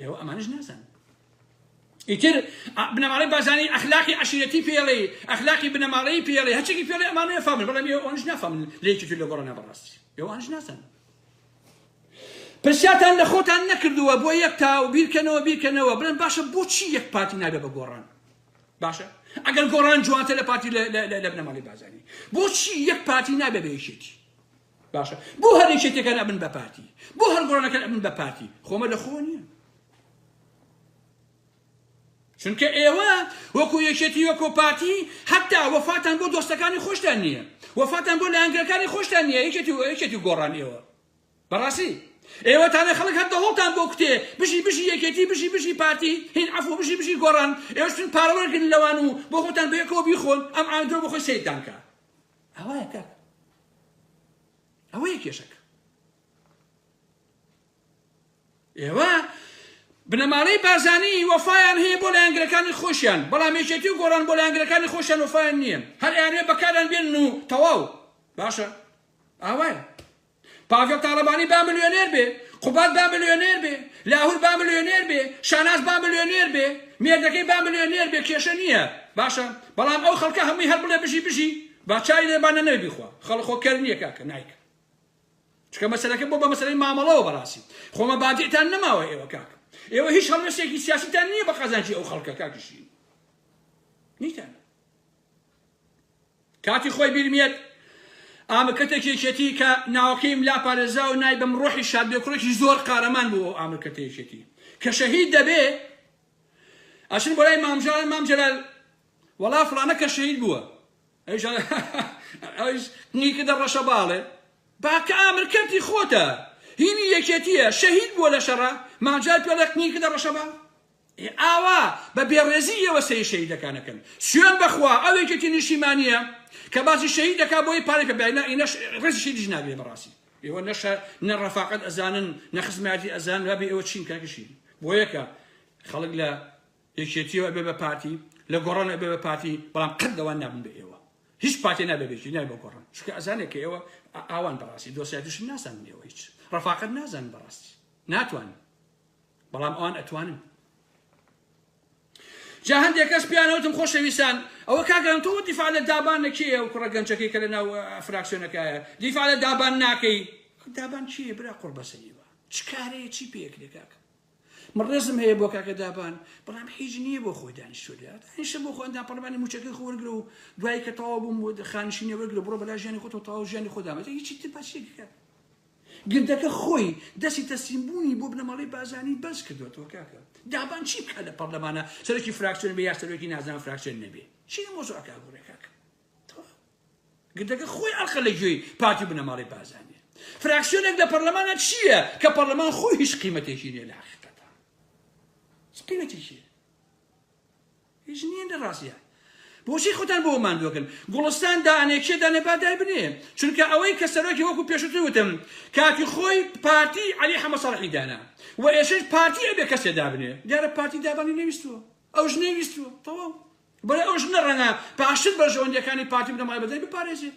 ئێوە ئەمانش نازان ئیتر بنەماڵەی بازانی ئەخلاقی عشیرەتی پێڵێ ئەخلاقی بنەماڵەی پێڵێ هەچێکی پێڵێ ئەمانە فامن بەڵام ئێوەش نافامن لێکی تر لە گۆڕە نابڕاستی ئێوانش نازان پرسیاتان لە خۆتان نەکردووە بۆ یەک تا و بیرکەنەوە بیرکەنەوە بڵێن باشە بۆچی یەک پارتی نابێ بە گۆڕان باشە ئەگەر گۆڕان جوانتە لە پارتی لە بنەماڵی بازانی بۆچی یەک پارتی نابێ بە یەکێتی باشە بۆ هەر یەکێتێکان ئەبن بە پارتی بۆ هەر گۆڕانەکەن ئەبن بە پارتی خۆمە لە خۆ نییە چونکە ئێوە وەکو یەکێتی وەکۆ پارتی هەتا وەفاتان بۆ دۆستەکانی خۆشتان نییە وەفاتان بۆ لایەنگرەکانی خۆشتان نییە یەکێتی و یەکێتی گۆڕان ئێوە بەڕاستی ئێوە تانە خەڵک هەر دەهۆڵتان بۆ کوتێ بژی بژی یەکێتی بژی بژی پارتی هین عفو بژی بژی گۆڕان ئێوەشتن پارەوەرگن لەوان و بۆ خۆتان بەیەکەوە بیخۆن ئەم ئاندرۆ بۆ خۆی سیدانکە ئەوایە کاکە ئەوەیە کێشەکە ئێوە بنەماڵەی بازانی وەفایان هەیە بۆ لایەنگرەکانی خۆشیان بەڵام یەکێتی و گۆڕان بۆ لایەنگرەکانی خۆشیان وەفایان نییە هەر ئەیانوێ بەکاران بێن و تەواو باشە ئاوایە پاڤێڵ تاڵەبانی با ملیۆنێر بێ، قوباد با ملیۆنێر بێ، لاهور با ملیۆنێر بێ، شاناز با ملیۆنێر بێ، مێردەکەی با ملیۆنێر بێ کێشە نییە باشە، بەڵام ئەو خەڵکە هەمووی هەر بڵێ بژی بژی با چای لێ با نەنەوێ بیخوا، خەڵک خۆ کەر نییە کاکە نایکا. چونکە مەسەلەکە بۆ بە مەسەلەی مامەڵەوە بەڕاستی خۆ مەبادیئتان نەماوە ئێوە کاکە ئێوە هیچ هەڵوێستێکی سیاسیتان نییە بە قازانجی ئەو خەڵکە کاکی شیرین نیتانە. کاتی خۆی بیرم یەت ئامرکەتێکی یەکێتی کە ناوەکەیم لا پارێزراوە نایبەم ڕۆحی شاد بێ کوڕێکی زۆر قارەمان بوو ئەو ئامرکەتە یەکێتی کە شەهید دەبێ ئەچن بۆ لای مامژار مام جەلال وەڵا فڵانە کە شەهید بووە ئەویش ئەویش قنگی کردە ڕەشە باڵێ باکە ئامرکەتی خۆتە هینی یەکێتیە شەهید بووە لە شەڕە مامجار پێڵێ قنگی کردە ڕەشە باڵ ئێ ئاوا بە بێڕێزی ئێوە سەیر شەهیدەکان ئەکەن سوێن بەخوا ئەو یەکێتی نیشتیمانیە کە باسی شەهید دەکا بۆی پارەی پێ بای نا ئینەش ڕێزی شەهیدیش ناگرێ بەڕاستی ئێوە نەشە نە ڕەفاقەت ئەزانن نە خزمەتی ئەزان وابێ ئێوە چین کاکی شەهید بۆ یەکە خەڵک لە یەکێتیەوە بێ بە پارتی لە گۆڕان ئەبێ بە پارتی بەڵام قەت دەوان نابن بە ئێوە هیچ پارتی نابێ بێکی نای بە گۆڕان چکە ئەزانێک کە ئێوە ئاوان بەڕاستی دۆسیاتیش نازانن ئێوە هیچ ڕەفاقەت نازان بەڕاستی ناتوانن بەڵام ئەوان ئەتوانن جا هەندێک کەس پیانە وتم خۆشەویستان ئەوە کاگەم تۆ دیفاع لە دابان لە کێیە و کوڕە گەنجەکەی کە لە ناو فراکسیۆنەکایە دیفاع لە دابان ناکەی دابان چیە برا قڕ بەسەریوە چ کارەیە چی پێکرێ کاکە من ڕێزم هەیە بۆ کاکە دابان بەڵام هیچ نییە بۆ خۆی دانیشتوریات هیشە بۆ خۆندا پەرمانی موچەکەی خۆرگرە و دوای کە تەواو بووم خانشینەوەگرە بڕۆ بەلا ژیانی خۆتۆ تەواو ژیانی خۆدامەتە هیچی تر پاسێکەکە گردەکە خۆی دەستی تەسلیم بوونی بۆ بنەماڵەی بازانی بەرز کردۆتەوە کاکە دابان چی بکات لە پەڕلەمانا سەرۆکی فراکسیۆن بێ یا سەرۆکی نازناوە فراکسیۆن نەبێ چی لە مۆزوعەکە ئەگۆڕێ کاکە گردەکە خۆی ئەڵقە لە گوێی پارتی بنەماڵەی بازانێ فراکسیۆنێک لە پەرلەمانە چییە کە پەرلەمان خۆی هیچ قیمەتێکی نیە لە حقیقەتە قیمەتێکی هیچ نیە لە ڕاستیا بۆچی خۆتان بۆ ماندوەکەن گوڵستان دانێ کێ دانێ با دای بنێ چونکە ئەوەی کە سەرۆکی وەکو پێشتر وتم کاتی خۆی پارتی علی حەمە سەڵحی دانا و ئێشش پارتی ئەبێ کەسێ دابنێ دیارە پارتی دابانی نەویستوە ئەو ژنەی ویستوە تەواو بەڵێ ئەو ژنە ڕەنگە باشتر بەرژەوەندیەکانی پارتی بنەمای بەدەی بپارێزێ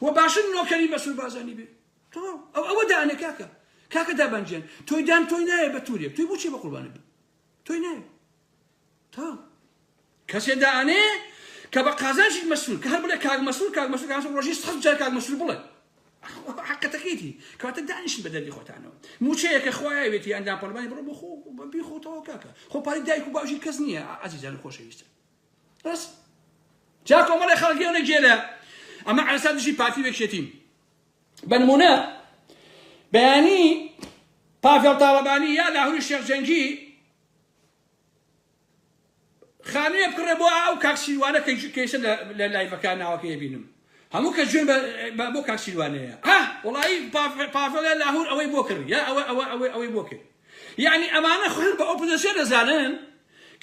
و باشتر نۆکەری مەسول بازانی بێ تەواو ئەو ئەوە دانێ کاکە کاکە دابانگیان تۆی دان تۆی نایە بە تورێک توی بچی بە قوربانە بێ تۆی نایە تا کەسێ دائەنێ کە بە قازانجی مەسرور کە هەر بڵێ کاک مەسرور کاک مەسرور کاک مەسرور ڕۆژی سەد جار کاک مەسرور بڵێ حقەتەکەیتی کەواتە دانیشن بە دەردی خۆتانەوە موچەیە کە خوایە وێتی یاندان پەرلمانی بڕۆ بۆ خۆ بەبی خۆتەوە کاکە خۆ پارەی دایک و باوژی کەس نییە ئازیزان خۆشەویستە بەس جا کۆمەڵی خەڵگیێنە گێلە ئەمە عرسا دژی پارتی وێکشێتین بەنمونە بەیانی پاڤێڵ تاڵەبانی یا لاهوری شێخ جەنگی خانویە بکڕێ بۆ ئاو کاک شیروانە کە کێشە لە لایڤەکە ناوەکەی ئەبینم هەموو کە جوێن بە بۆ کاک شیروانەیە ها وڵایی پاڤڵە لاهور ئەوەی بۆ کرد یا ئەوە ئەوە ئەوەی ئەوەی بۆ کرد یعنی ئەمانە خۆیان بە ئۆپۆزیسیۆن دەزانن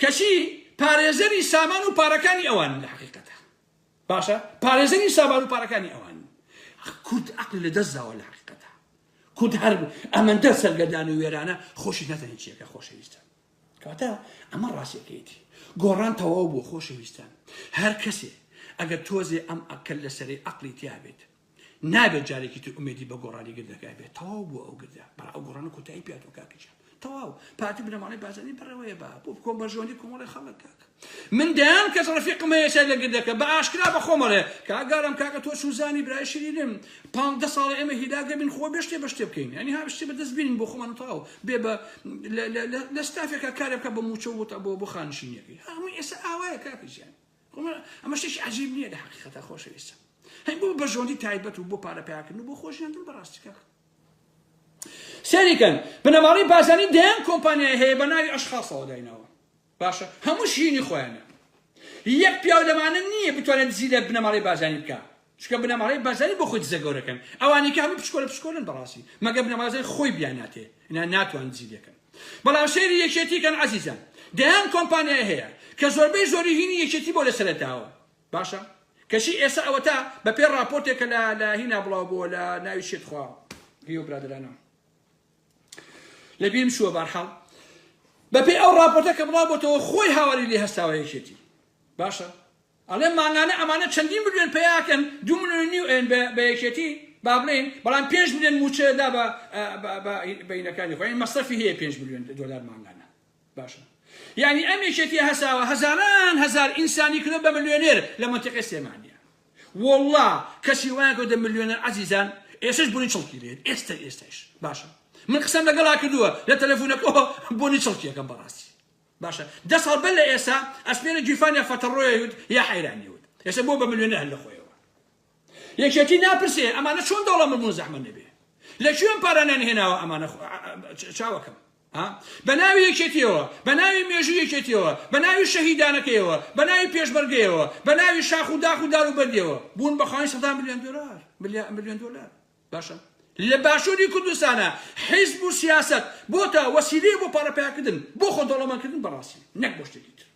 کەچی پارێزەری سامان و پارەکانی ئەوان لە حەقیقەتە باشە پارێزەری سامان و پارەکانی ئەوان کورد عقل لە دەست داوە لە حقیقەتە کورد هەر ئەمەندە سەرگەدان و وێرانە خۆشی نەتەنی چیەکە خۆشەویستە کەواتە ئەمە ڕاستەکەیتی گۆڕان تەواو بۆ خۆشەویستان هەر کەسێ ئەگەر تۆزێ ئەم ئەکەل لەسەری عقلی تیابێت نابێت جارێکی تر ئومێدی بە گۆڕانی گردەکە بێت تەواو بۆ ئەو گردە بەڵا ئەو گۆڕانە کۆتایی پیاتۆ کاکەجان تەواو پارتی بنەماڵەی بازنی بەڕێوەیە بە بۆ بکۆم بەرژۆنی کۆمەڵی خەڵک کاک من دەیان کەس ڕفیقم هەیە سەر لە گردەکە بە ئاشکرا بە خۆمەڵێ کاگارم کاکە تۆ چوزانی برای شیرینم پانزدە ساڵە ئێمە هیلاگە بین خۆ بێشتێ بە شتێ بکەین ینی ها شتێ بەدەست بینین بۆ خۆمان تەواو بێ بە لە ستافێکە کارێکە بە موچە بۆ بۆ خانشینەکەی هەموو ئێستا ئاوایە کاکەجیان وەڵا ئەمە شتێکی عەجیب نییە لە حەقیقەتە خۆشەویستە هەی بۆ بەژۆندی تایبەت و بۆ پارە پیاکردن و بۆ خۆشیاندن بەڕاستی کاک سەریکەن بنەماڵەی بازانی دەیان کۆمپانیای هەیە بە ناوی ئەشخاصەوە دایناوە باشە هەموو شیرینی خۆیانە یەک پیاو لەمانە نییە بتوانێت دزی لە بنەماڵەی بازانی بکە چونکە بنەماڵەی بەرزانی بۆ خۆی دزە گەورەکەن ئەوانەی کە هەموو پشکۆلە پشکۆلەن بەڕاستی مەگەر بنەماڵەی بەرزانی خۆی بیان ناتێ ئینا ناتوان دزی لێکەن بەڵام سەیری یەکێتی کەن عەزیزان دەیان کۆمپانیای هەیە کە زۆربەی زۆری هینی یەکێتی بۆ لەسەرەتاوە باشە کەچی ئێستا ئەوەتا بە پێ ڕاپۆرتێک کە لە لە هینا بڵاو بۆ لە ناوی شێت خوا هیو برادرانە لە بیم شووە بارحاڵ بە پێ ئەو ڕاپۆرتە کە بڵاو بۆتەوە خۆی هاواری لێ هەستاوە یەکێتی باشە ئەڵێم مانگانە ئەمانە چەندین ملیۆن پەیا ئەکەن دوو ملیۆن و نیو ئەیەن بە بە یەکێتی با بڵێین بەڵام پێنج ملیۆن مووچە ئەدا بە بە بە بە ئینەکانی خۆ یانی مەسرەفی هەیە پێنج ملیۆن دۆلار مانگانە باشە یانی ئەم یەکێتیە هەساوە هەزاران هەزار ئینسانی کردوە بە ملیۆنێر لە مەنتیقەی سلێمانیە وەڵڵا کەسی وایان کردوە ملیۆنێر عەزیزان ئێستەش بۆنی چڵکی لێت ئێستە ئێستەش باشە من قسەم لەگەڵا کردووە لە تەلەفونەکەوە بۆنی چڵکیەکەم بەڕاستی باشە دە ساڵ بەر لە ئێسا ئەسمێنە گیرفان یا فەتەڕۆیە وت یا حەیرانی وت ئێسا بۆ بە ملیۆنێر هەر لە خۆیەوە یەکێتی ناپرسێ ئەمانە چۆن دەوڵەمە بوون زەحمە نەبێ لە کوێ ئەم پارانیان هێناوە ئەمانە چاوەکەم بە ناوی یەکێتیەوە بە ناوی مێژوو یەکێتیەوە بە ناوی شەهیدانەکەیەوە بە ناوی پێشمەرگەیەوە بە ناوی شاخ و داخ و دار و بەردیەوە بوون بە خاوەنی سەدان ملیۆن دۆلار ملیۆن دۆلار باشە لە باشوری کوردستانا حیزب و سیاسەت بۆتە وەسیلەیە بۆ پارە پەیاکردن بۆ خۆ دەوڵەمەند کردن بە ڕاستی نەک بۆ شتێکی تر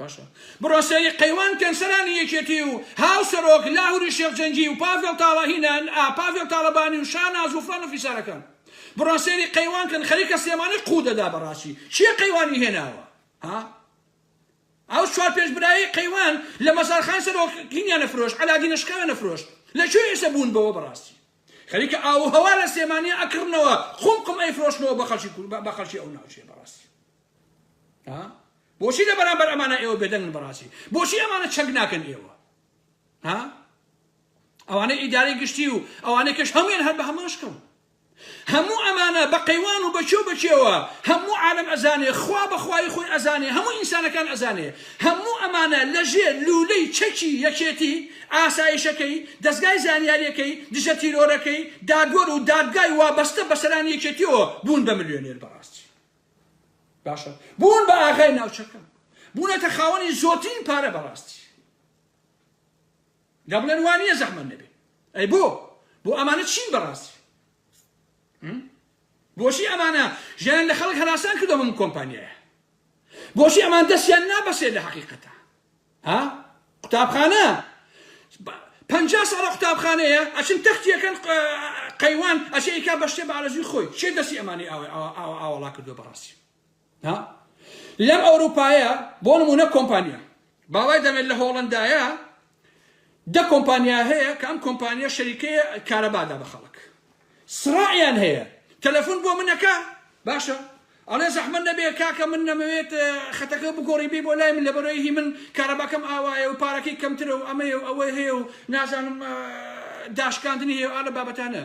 باشە بڕۆ سەیری قەیوان کەن سەرانی یەکێتی و هاو سەرۆک لاهوری شێخ جەنگی و پاڤێڵ تاڵەهینان ئا پاڤێڵ تاڵەبانی و شاناز و فڵان و فیسارەکان بڕۆ سەیری قەیوان کەن خەریکە سلێمانی قوو دەدا بە ڕاستی چیە قەیوانی هێناوە ها ئەو چوار پێنج برایەی قەیوان لە مەزارخان سەرۆکینیان ئەفرۆشت عەلادین ئەشقیان ئەفرۆشت لە کوێ ئێسە بوون بەوە بەڕاستی خەریکە ئاوو هەوا لە سلێمانیە ئەکڕنەوە قوم قوم ئەیفرۆشنەوە بە خەڵکی کورد بە خەڵکی ئەو ناوچەیە بەڕاستی ها بۆچی لە بەرامبەر ئەمانە ئێوە بێدەنگن بەڕاستی بۆچی ئەمانە چەک ناکەن ئێوە ها ئەوانەی ئیدارەی گشتی و ئەوانەی کەش هەموویان هەر بە هەمان شکڵ هەموو ئەمانە بە قەیوان و بە کێ و بە کێوە هەموو عالەم ئەزانێ خوا بە خوایی خۆی ئەزانێ هەموو ئینسانەکان ئەزانێ هەموو ئەمانە لە ژێر لوولەی چەکی یەکێتی ئاسایشەکەی دەزگای زانیاریەکەی دژە تیرۆرەکەی دادوەر و دادگای وابەستە بە سەرانی یەکێتیەوە بوون بە ملیۆنێر بەڕاستی باشە بوون بە ئاغای ناوچەکە بوونەتە خاوەنی زۆرترین پارە بەڕاستی. دەبڵێن وانیە زەحمەت نەبێ ئەی بۆ بۆ ئەمانە چین بەڕاستی بۆچی ئەمانە ژیان لە خەڵک هەراسان کردە من کۆمپانیایە بۆچی ئەمان دەستیان نابەسێت لە حقیقەتە ها قوتابخانە پ ساڵە قوتابخانەیە ئەچن تەختیەکەن قەیوان ئەچێکا بەشتێ بارەزوی خۆی چێ دەستی ئەمانی ئاوڵا کردو بەڕاستی ها لەم ئەوروپایە بۆ نمونە کۆمپانیا باڵای دەمێت لە هۆڵندایە دە کۆمپانیا هەیە کە ئەم کۆمپانیا شەریکەیە کارەبادا بە خەڵک سڕائیان هەیە تەلەفۆن بۆ منەکە باشە ئەڵێ زەحمە نەبێ کاکە من نەمەوێت خەتەکە بگۆڕی بی بۆ لای من لە بەرەوەی هی من کارەباکەم ئاوایە و پارەکەی کەمترە و ئەمەیە و ئەوەی هەیە و نازانم داشکاندنی هەیە ئالە بابەتانە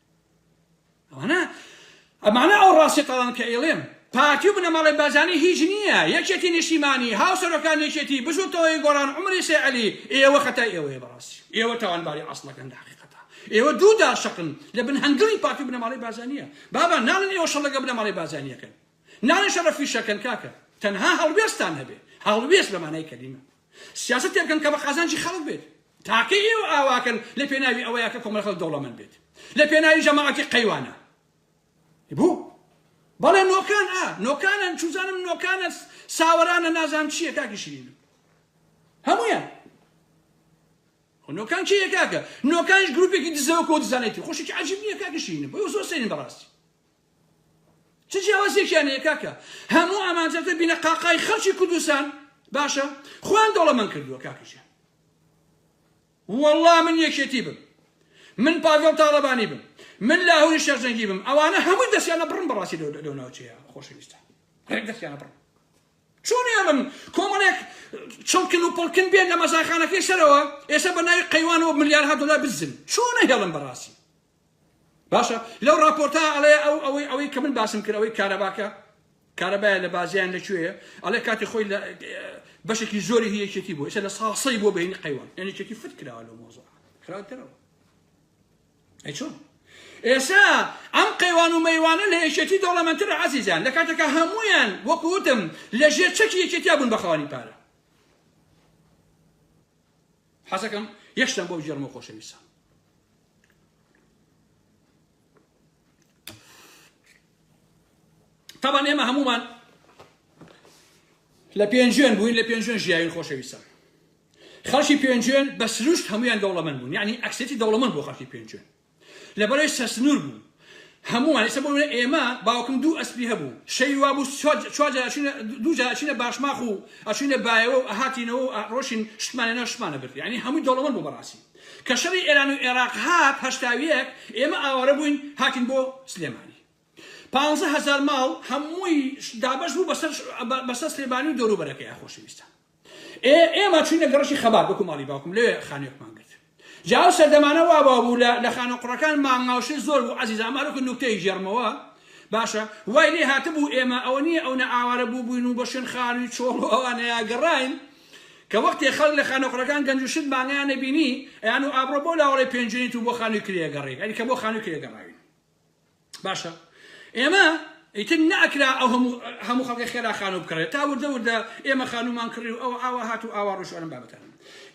ئەمانە ئەمانە ئەو ڕاستی قەڵەن کە ئەیڵێم پارتی و بنەماڵەی بارزانی هیچ نییە یەکێتی نیشتیمانی هاوسەرۆکان یەکێتی بزوتەوەی گۆڕان عومری سێ عەلی ئێوە خەتای ئێوەیە بەڕاستی ئێوە تاوانباری عەسڵەکەن لە حەقیقەتا ئێوە دوو دار شەقن لە بن هەنگڵی پارتی و بنەماڵەی بارزانیە بابا ناڵن ئێوە شەڕ لەگەڵ بنەماڵەی بارزانیەکەن ناڵن شەڕە فیشەکەن کاکە تەنها هەڵوێستان هەبێ هەڵوێست بە مانای کەلیمە سیاست تێبکەن کە بە قازانجی خەڵک بێت تاکەی ئێوە ئاواکەن لە پێناوی ئەوەیا کە کۆمەڵە خەڵک دەوڵەمەند بێت لە پێناوی جەماعەتی قەیوانە بو بەڵێ نۆکان ئا نۆکانن چوزانم نۆکانە ساوەرانە نازام چییە کاکی شیرین هەمویان نۆکان چی یەکاکە نۆکانش گروپێکی دزەوە کۆ دزانێتی خۆشێکی عجیب نییە کاکە شیرین بۆ زۆر سەرین بەڕاستی چ جیاوازیەکیان هەیە کاکە هەموو ئامانجەکە بینە قاقای خەڵکی کوردستان باشە خۆیان دەوڵەمەند کردووە کاکە ژیان وەڵڵا من یەکێتی بم من پاڤێڵ تاڵەبانی بم من لاهوری شەرجەنگی بم ئەوانە هەمووی دەستیانە بڕم بەڕاستی لەو ناوچەیە خۆشەویستە ڕێک دەستیانە بڕم چۆن ئێڵم کۆمەڵێک چڵکن و پڵکن بێن لە مەزاخانەکەی سەرەوە ئێستا بە ناوی قەیوانەوە ملیارها دلار بزن چۆنە هێڵم بەڕاستی باشە لەو راپۆرتە ئەڵێ ئەو ئەوەی ئەوەی کە من باسم کرد ئەوەی کارەباکە کارەبایە لە بازیان لە کوێیە ئەڵێ کاتی خۆی لە بەشێکی زۆری هی یەکێتی بوو ئێستا لە ساسەی بۆ بەینی قەیوان یعنی چێتی فت کراوە لەو مۆزە خراوترەوە ئەی چۆن ئێسا ئەم قەیوان و مەیوانە لە یەکێتی دەوڵەمەندتر عزیزیان لە کاتێکە هەمویان وەکوتم لە ژێر چەکی یەکێتیا بوون بەخەوانی پارە حەزەکەم یەکشتان بۆ بگێڕمەوە خۆشەویستان تەبان ئێمە هەمومان لە پێنجێن بووین لە پێنجێن ژیاوین خۆشەویستان خەڵکی پێنجێن بە سروشت هەمویان دەوڵەمەند بوون یعنی ئەکسێتی دەوڵەمەند بۆ خەڵکی پێنجێن لەبەرەی سەرسنوور بوو هەمووان، ئیستا بۆ نموونە ئێمە باوکم دوو ئەسپی هەبوو شەوی وابوو چوار جار ئەچووینە دوو جار ئەچووینە باشماخ و ئەچووینە بایەوە و ئەهاتینەوە و ئەڕۆشین شتمان لەناو شتمان ئەبرد یانی هەمووی دەوڵەمەند بوو بەڕاستی کە شەڕی ئێران و ئێراق هات هەشتا و یەک ئێمە ئاوارە بووین هاتین بۆ سلێمانی پانزە هەزار ماڵ هەمووی دابەش بوو بەسەر بەسەر سلێمانی و دەوروبەرەکەی ئای خۆشەویستان ئێ ئێمە چوینە گەڕەکی خەبات وەکو ماڵی باوکم لەوێ خانوێکمان گرت جا ئەو سەردەمانە وا وا بوو لە لە خانە قوڕەکان مانگاوشێ زۆر بوو عەزیزە ئەمە هەرکو نوکتەیەک ژێڕمەوە باشە وای لێ هاتبوو ئێمە ئەوە نییە ئەو نە ئاوارە بوو بووین و بە شوێن خان و چۆڵ و ئەوانەیە گەڕاین کە وەختێ خەڵک لە خانە قوڕەکان گەنج و شت مانگیان نەبینی ئەیان و ئابڕۆ بۆ لاوەڵی پێنجوێنیت و بۆ خانووی کرێگەڕێک ئەنی کە بۆ خانووی کرێگەڕاوین باشە ئێمە ئیتر ناکرا ئەو هەموو هەموو خەڵکی خێرا خانوو بکڕێت تا وردە وردە ئێمە خانومان کڕی و ئەو ئاوا هات و ئاوا ڕوشوانم بابەتان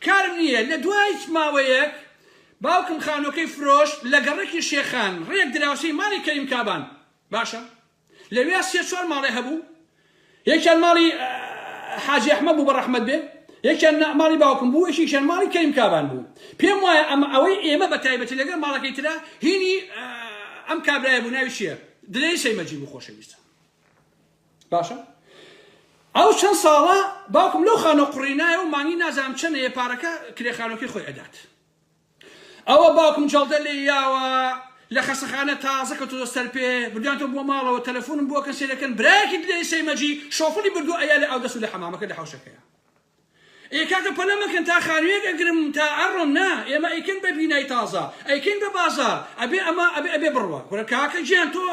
کارم نییە لە دوای ماوەیەک باوکم خانوەکەی فرۆش لە گەڕەکی شێخان ڕێک دراوسی ماڵی کەریم کابان باشە لەوێ سێ چوار ماڵێ هەبوو یەکیان ماڵی حاجی ئەحمەد بوو بەڕەحمەت بێ یەکیان ماڵی باوکم بوو یەکیشیان ماڵی کەریم کابان بوو پێم وایە ئەمە ئەوەی ئێمە بە تایبەتی لەگەڵ ماڵەکەی ترا هینی ئەم کابرایە بوو ناوی چییە دلێری سەیمەجی بوو خۆشەویستە باشە ئەو چەند ساڵە باوکم لەو خانۆ قڕینایە و مانگی نازانم چەنەیە پارەکە کرێخانۆکی خۆی ئەدات ئەوە باوکم جەڵدە لێی یاوە لە خەسەخانە تازە کەوتۆتە سەر پێ بردویانتەوە بۆ ماڵەوە تەلەفونم بۆکەن سەیرەکەن برایەکی دلێری سەیمەجی شۆفڵی بردوە ئەیا لە ئاودەست و لە حەمامەکە لە حەوشەکەیە ئێ کاکە پەلە مەکەن تا خانویەک ئەگرم تا ئەڕۆم نا ئێمە ئەیکەن بە بینای تازە ئەیکەین بە بازار ئەبێ ئەمە ئەبێ ئەبێ بڕوا کورە کاکە گیان تۆ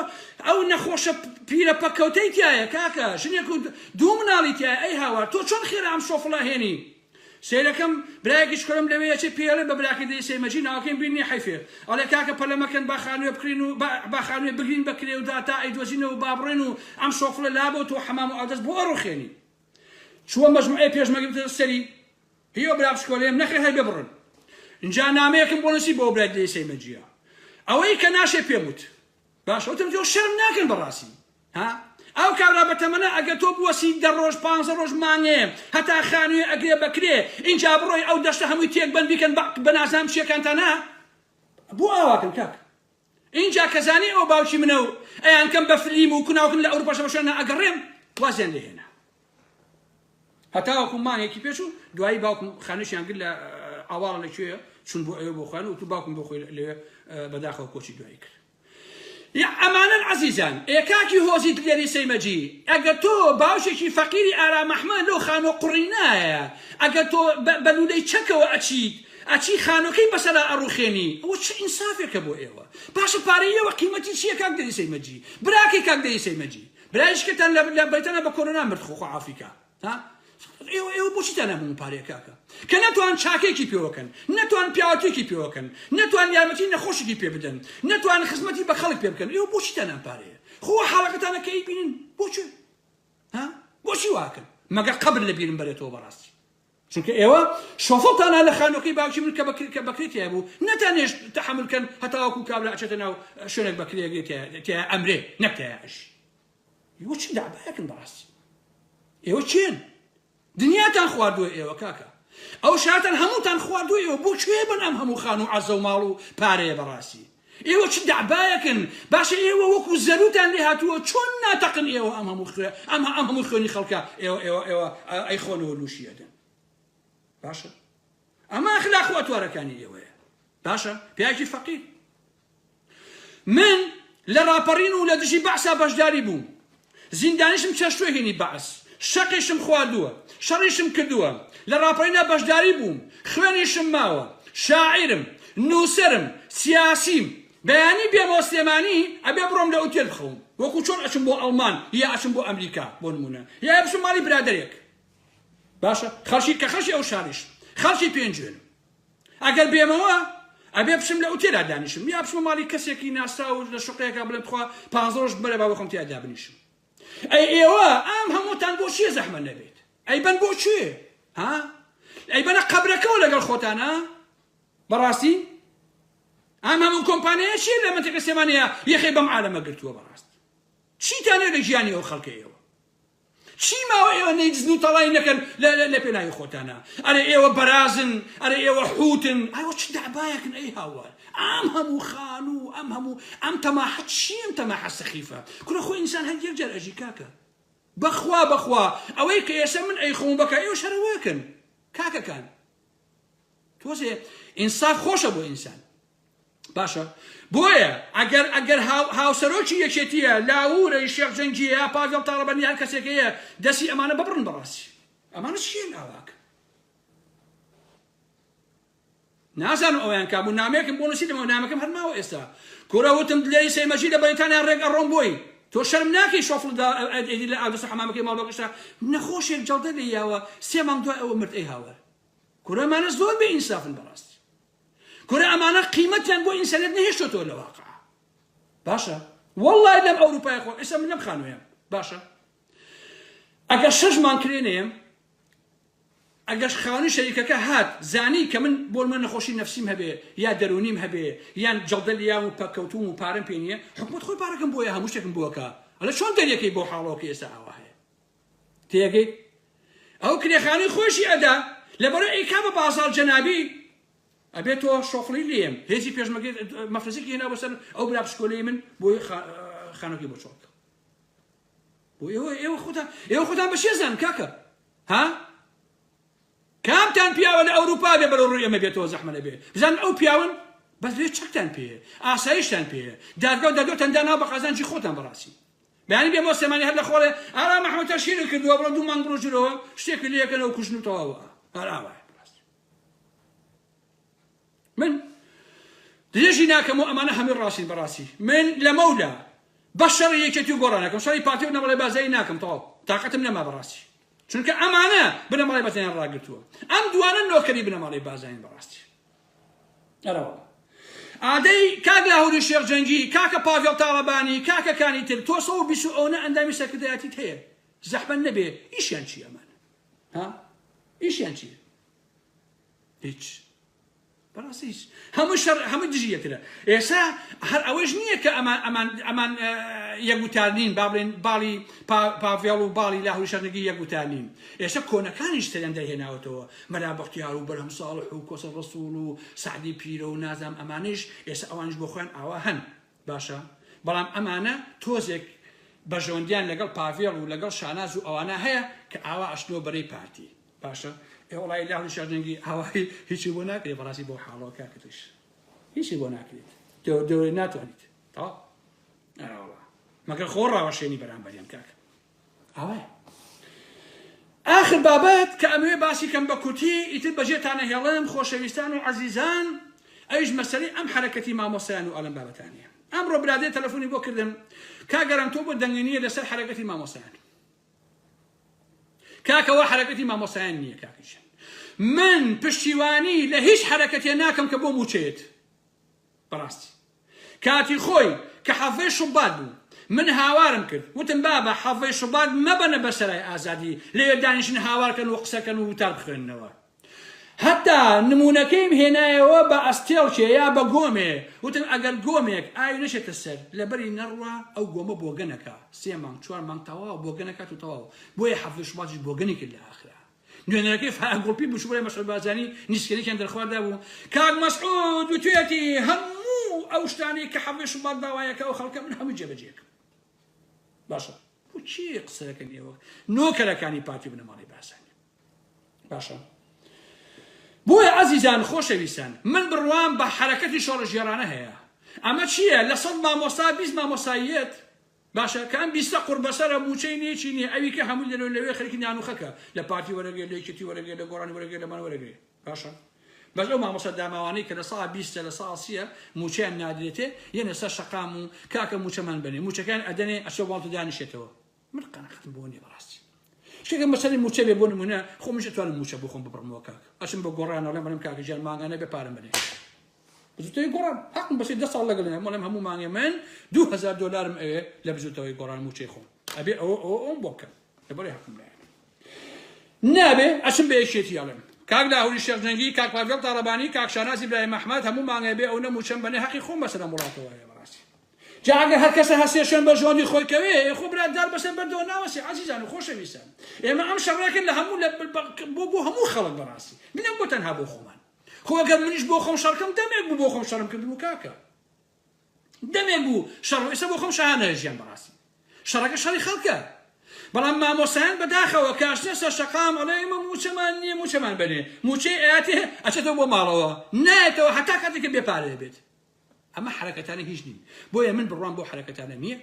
ئەو نەخۆشە پیرە پەکەوتەی تایە کاکە ژنێک و دوو مناڵی تایە ئەی هاوار تۆ چۆن خێرا ئەم شۆفڵە هێنی سەیرەکەم برایەکیش کورم لەوێ ئەچێ پێی ئەڵێ بە براکەی دەی سەی مەجی ناوەکەیم بیر نیە حەیفێ ئەڵێ کاکە پەلە مەکەن با خانوێ بکرین و با با خانوێ بگرین بە کرێ و داتا ئەیدۆزینەوە و با بڕۆین و ئەم شۆفڵە لا بۆ تۆ حەمام و ئاودەس بۆ ئەڕوخێنی چووە مەجموعەی پێشمەرگە بتە سەری هیۆ برا بشکۆلێم نەخێر هەر بێ بڕن ئینجا نامەیەکم بۆ نووسی بۆ برای دەی سەی مەجیە ئەوەی کە ناشێ پێم وت باش وتم تۆ شەرم ناکەن بەڕاستی ها ئەو کابرا بەتەمەە ئەگەر تۆ بوەسی دە ڕۆژ پ ڕۆژ مانێ هەتا خانوێ ئەگرێ بەکرێ ئینجا بڕۆی ئەو دەشتە هەمووی تێک بن بیکەن بە نازام چیەکانتانە بۆ ئاواکەن کاک اینجا کەزانی ئەو باوکی منە و ئەیان کەم بە فلیم و کوناوکن لە ئەوروپاشە بە شوێنە ئەگەڕێم وازیان لێهێنا هەتاوەکو مانگێکی پێش و دوایی باوکم خانوشیان گرت لە ئاواڵە لە کوێ چون بۆ ئەوێ بۆ خۆیان وتو باوکم بۆ خۆی لەوێ بەداخەوە کۆچی دوایی کرد یا ئەمانن عزیزان ئێکاکی هۆزی دلێری سەیمەجی ئەگە تۆ باوشێکی فەقیری ئارام ئەحمە لەو خانۆ قڕینایە ئەگە تۆ بەلولەی چەکەوە ئەچیت ئەچی خانۆکەی بەسەرا ئەڕوخێنی ئەوە چ ئینسافێکە بۆ ئێوە پاشە پارەی ئێوە قیمەتی چییە کاک دەری سەیمەجی براکەی کاک دەری سەیمەجی برای شکتان لە لە بەیتەنە بە کۆرۆنا مرد خۆ خۆ ئافریکا ها ئێوە ئێوە بۆچی تەنە بوون پارەیە کاکە کە نەتوان چاکێکی پێوەکەن نەتوان پیاوەتێکی پێوەکەن نەتوان یارمەتی نەخۆشێکی پێ بدەن نەتوان خزمەتی بە خەڵک پێ بکەن ئێوە بۆچی تەنە پارەیە خۆ حاڵەکەتانە کە ئیبینن بۆچی ها بۆچی واکەن مەگە قەبر لە بیرم بەرێتەوە بەڕاستی چونکە ئێوە شۆفڵتان ها لە خانوەکەی باوکی من کە کە بەکرێ تیا بوو نەتان هێشت تەحەمل کەن هەتاوەکو کابرا ئەچێتە ناو شوێنێک بەکرێ تیا ئەمرێ نەک تیا ئەژی ئێوە چ دابایەکن بەڕاستی ئێوە چێن دنیاتان خواردووە ئێوە کاکە ئەو شاتان هەمووتان خواردووە ئێوە بۆ کوێ بن ئەم هەموو خان و عەزە و ماڵ و پارەیە بەڕاستی ئێوە چ دەعبایەکن باشە ئێوە وەکو زەروتان لێ هاتووە چۆن ناتەقن ئێوە ئەم هەموو خوێ ئەم ئەم هەموو خوێنی خەڵکە ئێوە ئێوە ئێوە ئەی خۆنەوە لوشی ئەدەن باشە ئەمە ئەخلاق و ئەتوارەکانی ئێوەیە باشە پیاکی فەقیر من لە ڕاپەڕین و لە دژی بەعسا بەشداری بووم زیندانیشم چەشتووە هینی بەعس شەقیشم خواردووە شەڕیشم کردووە لە ڕاپەڕینا بەشداری بووم خوێنیشم ماوە شاعیرم نووسەرم سیاسیم بەیانی بێم بۆ سلێمانی ئەبێ بڕۆم لە ئوتێل بخەوم وەکو چۆن ئەچم بۆ ئەڵمان یا ئەچم بۆ ئەمریکا بۆ نموونە یا بچم ماڵی برادەرێک باشە خەڵکی کە خەڵکی ئەو شاریش خەڵکی پێنجوێنم. ئەگەر بێمەوە ئەبێ بچم لە ئوتێلا دانیشم یا بچمە ماڵی کەسێکی ناسراو لە شوقەیەکە بڵێم تخوا پانزە ڕۆژ بمەرە با بەخۆم تیا دابنیشم ئەی ئێوە ئەم هەمووتان بۆ چیە زەحمە نەبێت ئەی بەن بۆ چێ ها ئەی بەنە قەبرەکەەوە لەگەڵ خۆتانە بەڕاستی ئەم هەموو کۆمپانیایە چیە لە منتەکە سێمانەیە یەخەی بەم عالەمە گرتووە بەڕاست چیتانێ لە گیانی ئەو خەڵکەیەوە چی ماوە ئێوە نەیدزن و تەڵای نەکەن لە لە پێناوی خۆتانا ئەرێ ئێوە بەرازن ئەرێ ئێوە حوتن ئەوە چ دەعبایەکن ئەی هاوار ئەم هەموو خان و ئەم هەموو ئەم تەماحە چی ئەم تەماحە سەخیفە کورە خۆ ئینسان هەر یەک جار ئەژی کاکە بەخوا بەخوا ئەوەی کە ئێستا من ئەی خۆم بەکە ئێوە شەرەوەکن کاکەکان تۆزێ ئینساف خۆشە بۆ ئینسان باشە بۆیە ئەگەر ئەگەر هاوسەرۆکی یەکێتیە لاورەی شێخ جەنگیە یا پاگەڵ تاڕەبەنی هەر کەسێکەیە دەسی ئەمانە ببڕن بەڕاستی ئەمانە چیان ئاواکە نازانم ئەویان کابوو نامێکم بۆ نووسی دەمەوە نامەکەم هەر ماوە ئێستا کورە وتم دلێری سەیمەجی لە بەریتانیا ڕێک ئەڕۆم بۆی تۆ شەرم ناکەی شۆفڵ ئەدی لە ئاودەسە حەمامەکەی ماڵۆکەشە نەخۆشێک جەڵدە لێ یاوە سێ مانگ دوای ئەوە مرد ئەی هاوار کورەمانە زۆر بێ ئینسافن بەڕاستی کورە ئەمانە قیمەتیان بۆ ئینسانیەت نەهێشتۆتەوە لە واقع باشە واللە لەم ئەوروپای خۆ ئێستا من لەم خانوێم باشە ئەگەر شەش مان کرێنێم ئەگەش خاونی شەریکەکە هات زانی کە من بۆ من نەخۆشی نفسیم هەبێ یا دەرونیم هەبێ یان جەڵدە لیام و پەکەوتوم و پارەم پێ نییە حکومت خۆی پارەکەم بۆیە هەموو شتێکم بووەکە ئەلە چۆن دەریەکەی بۆ حاڵەوەکە ئێستا ئاوا هەیە تێگەی ئەو کرێخانەی خۆشی ئەدا لەبەرو ئەی کامە بازاڕ جەنابی ئەبێ تۆ شۆخڵی لێم هێزی پێشمەگەی مەفرەزێکی هێنا بەسەر ئەو برا پشکۆلەی من بۆ خانەکەی بۆ چۆڵ بۆ ئێوە ئێوە خۆتان ئێوە خۆتان بە شێزان کاکە ها کامتان پیاوە لە ئەوروپا بێ بەرەو ڕووی ئەمە بێتەوە زەحمە لەبێ بزان ئەو پیاون بەس لێ چەکتان پێ ئاسایشتان پێ دادگا و دادۆتان دانا بە قازانجی خۆتان بەڕاستی بەیانی بێ بۆ سلێمانی هەر لە خۆڵێ ئارام محمەدتە شیرت کردوە بڕۆ دوو مانگ بڕۆ ژورەوە شتێکت لێ ئەکەنەوە کوژن و تەواو ئا هەر ئاوایە بەڕاستی من درێژی ناکەم و ئەمانە هەمووی ڕاستین بەڕاستی من لە مەولا بە شەڕی یەکێتی و گۆڕانەکەم شەڕی پارتی و نەمەڵی بازایی ناکەم تەواو تااقەتم نەما بەڕاستی چونکە ئەمانە بنەماڵی بەتەنیان ڕاگرتووە ئەم دوانە نۆکەری بنەماڵی بازین بەڕاستی ئەرەوە ئادەی کاک لاهوری شێخ جەنگی کاکە پاڤێڵ تاڵەبانی کاکە کانی تر تۆ سەد و بیست و ئەونە ئەندامی سەرکردایەتیت هەیە زەحمەت نەبێ ئیشیان چی ئەمان ها ئیشیان چی هیچ بەڕاستی هیچ هەموو شەڕ هەموو دژی یەکرە ئێسا هەر ئەوەش نییە کە ئەمان ئەمان ئەمان یەکوتار نین با بڵێن باڵی پاڤێڵ و باڵی لاهوری شەرنگی یەکوتار نین ئێستا کۆنەکانیش سەرێن دەرهێناوەتەوە مەلا بەختیار و بەرهەم ساڵح و کۆسە ڕەسوڵ و سەعدی پیرە و نازام ئەمانەیش ئێستا ئەوانیش بۆ خۆیان ئاوا هەن باشە بەڵام ئەمانە تۆزێک بەژۆندیان لەگەڵ پاڤێڵ و لەگەڵ شاناز و ئەوانە هەیە کە ئاوا ئەشتنەوە بەرەی پارتی باشە ئێ وڵی لا هەڵی شاجەنگی هاوای هیچی بۆ ناکرێت بەڕاستی بۆ حاڵەوە کاکتش هیچی بۆ ناکرێت دەورەی ناتوانیت تاوا مەگەر خۆ ڕاوەشێنی بەرامبەریان کاکە ئاوایە ئاخر بابەت کە ئەمەوێ باسی کەم بە کورتی ئیتر بەجێتان ئەهێڵم خۆشەویستان و عەزیزان ئەویش مەسەلەی ئەم حەرەکەتی مامۆستایان و ئەلەم بابەتانەیە ئەمڕۆ برادێ تەلەفونی بۆ کردم کاک ئەلەم تۆ بۆ دەنگی نییە لەسەر حەرەکەتی مامۆستایان کاکەوە حەرەکەتی مامۆستایان نییە کاکیشن من پشتیوانی لە هیچ حەرەکەتێ ناکەم کە بۆ موچەیەت بەڕاستی کاتی خۆی کە حەڤەی شوبات بوو من هاوارم کرد وتم بابە حەڤەی شوبات مەبەنە بەسەرای ئازادی لەوێ دانیشن هاوار کەن و قسە کەن و وتار بخوێننەوە هەتا نمونەکەیم هێنایەوە بە ئەستێڵکێ یا بە گۆمێ وتم ئەگەر گۆمێک ئاوی نەشێتە سەر لەبەری نەڕوا ئەو گۆمە بۆگەنەکە سێ مانگ چوار مانگ تەواو بۆگەنەکات و تەواو بۆیە حەڤەی شوباتیش بۆگەنی کرد لە ئاخرا نوێنەرەکەی فایەق گوڵپی بوشبڕی مەسعود بارزانی نیسکەریکیان دەرخواردا بوو، کاک مەسعود وتویەتی هەموو ئەو شتانەی کە حەڤدەی شوبات داوایەکە ئەو خەڵکە من هەمووی جێبەجێکەم. باشە بۆ چی قسەکەن ئێوە نۆکەرەکانی پارتی و بنەماڵەی بارزانی؟ باشە بۆیە ئەزیزان خۆشەویستان من بڕوام بە حەرەکەتی شۆڕشگێڕانە هەیە ئەمە چییە لە سەد مامۆستا بیست مامۆستاییەت باشە کام بیستە قوڕ بەسەرە موچەی نیە چی نیە ئەوی کە هەموی لەرەوی لەوێ خەرکی نانوخەکە لە پارتی وەرەگرێ لە یەکێتی وەرەگرێ لە گۆڕانی وەرەگرێ لەمان وەرەگرێ باشە بەس ئەو مامۆستا داماوانەی کە لە ساڵ بیستە لە ساڵ سیە موچەیان نادرێتێ یەنە سەر شەقام و کاکە موچەمان بەنێ موچەکەیان ئەدەنێ ئەچۆ واڵتە دانیشێتەوە من قەناعەتم بۆ نیە بەڕاستی شتێکم بەسەری موچە بێ بۆ نمونە خۆمیش ئەتوانم موچە بۆ خۆم ببڕمەوە کاکە ئەچم بە گۆڕان ئەڵێم ئەڵێم کاکە گیان مانگانە بێ پارەم بەنێ بزوتەوەی گۆڕان هەقم بەشی دە ساڵ لەگەڵ هەم وڵێم هەموو مانگێ من دوو هەزار دۆلارم ئەوێ لە بزوتەوەی گۆڕان موچەی خۆم ئەبێ ئەوە ئەوە ئەوم بۆ بکەم لەبەرێ هەقم لایە نابێ ئەچم بە یەکێتی ئەڵێم کاک لاهوری شێخ جەنگی کاک پاڤێڵ تاڵەبانی کاک شانازی برای مەحمەد هەموو مانگێ بێ ئەو نەموچەم بەنێ هەقی خۆم بەسەر ئەم وڵاتەوە هەیە بەڕاستی جا ئەگەر هەر کەسە هەسێ شوێن بە ژۆنی خۆی کەوێ خۆ برا دار بەسەر بەردەوە ناوەسێ عەزیزان و خۆشەویستان ئێمە ئەم شەڕێکن لە هەموو بۆ بۆ هەموو خەڵک بەڕاستی منە بۆ تەنها بۆ خۆمان خۆ گەر منیش بۆ خۆم شەڕکەم دەمێک بوو بۆ خۆم شەڕم کردبوو کاکە دەمێک بوو شەڕ ئێستا بۆ خۆم شەهانە ژیان بەڕاستی شەڕەکە شەڕی خەڵکە بەڵام مامۆسایان بەداخەوە کاشنە سەر شەقام ئەڵێ ئێمە موچەمان نییە موچەمان بەنێ موچەی ئاەتێ ئەچێتەوە بۆ ماڵەوە نایەتەوە هەتا کاتێکە بێ پارەیە بێت ئەمە حەرەکەتانە هیچ نین بۆیە من بڕوام بەو حەرەکەتانە نییە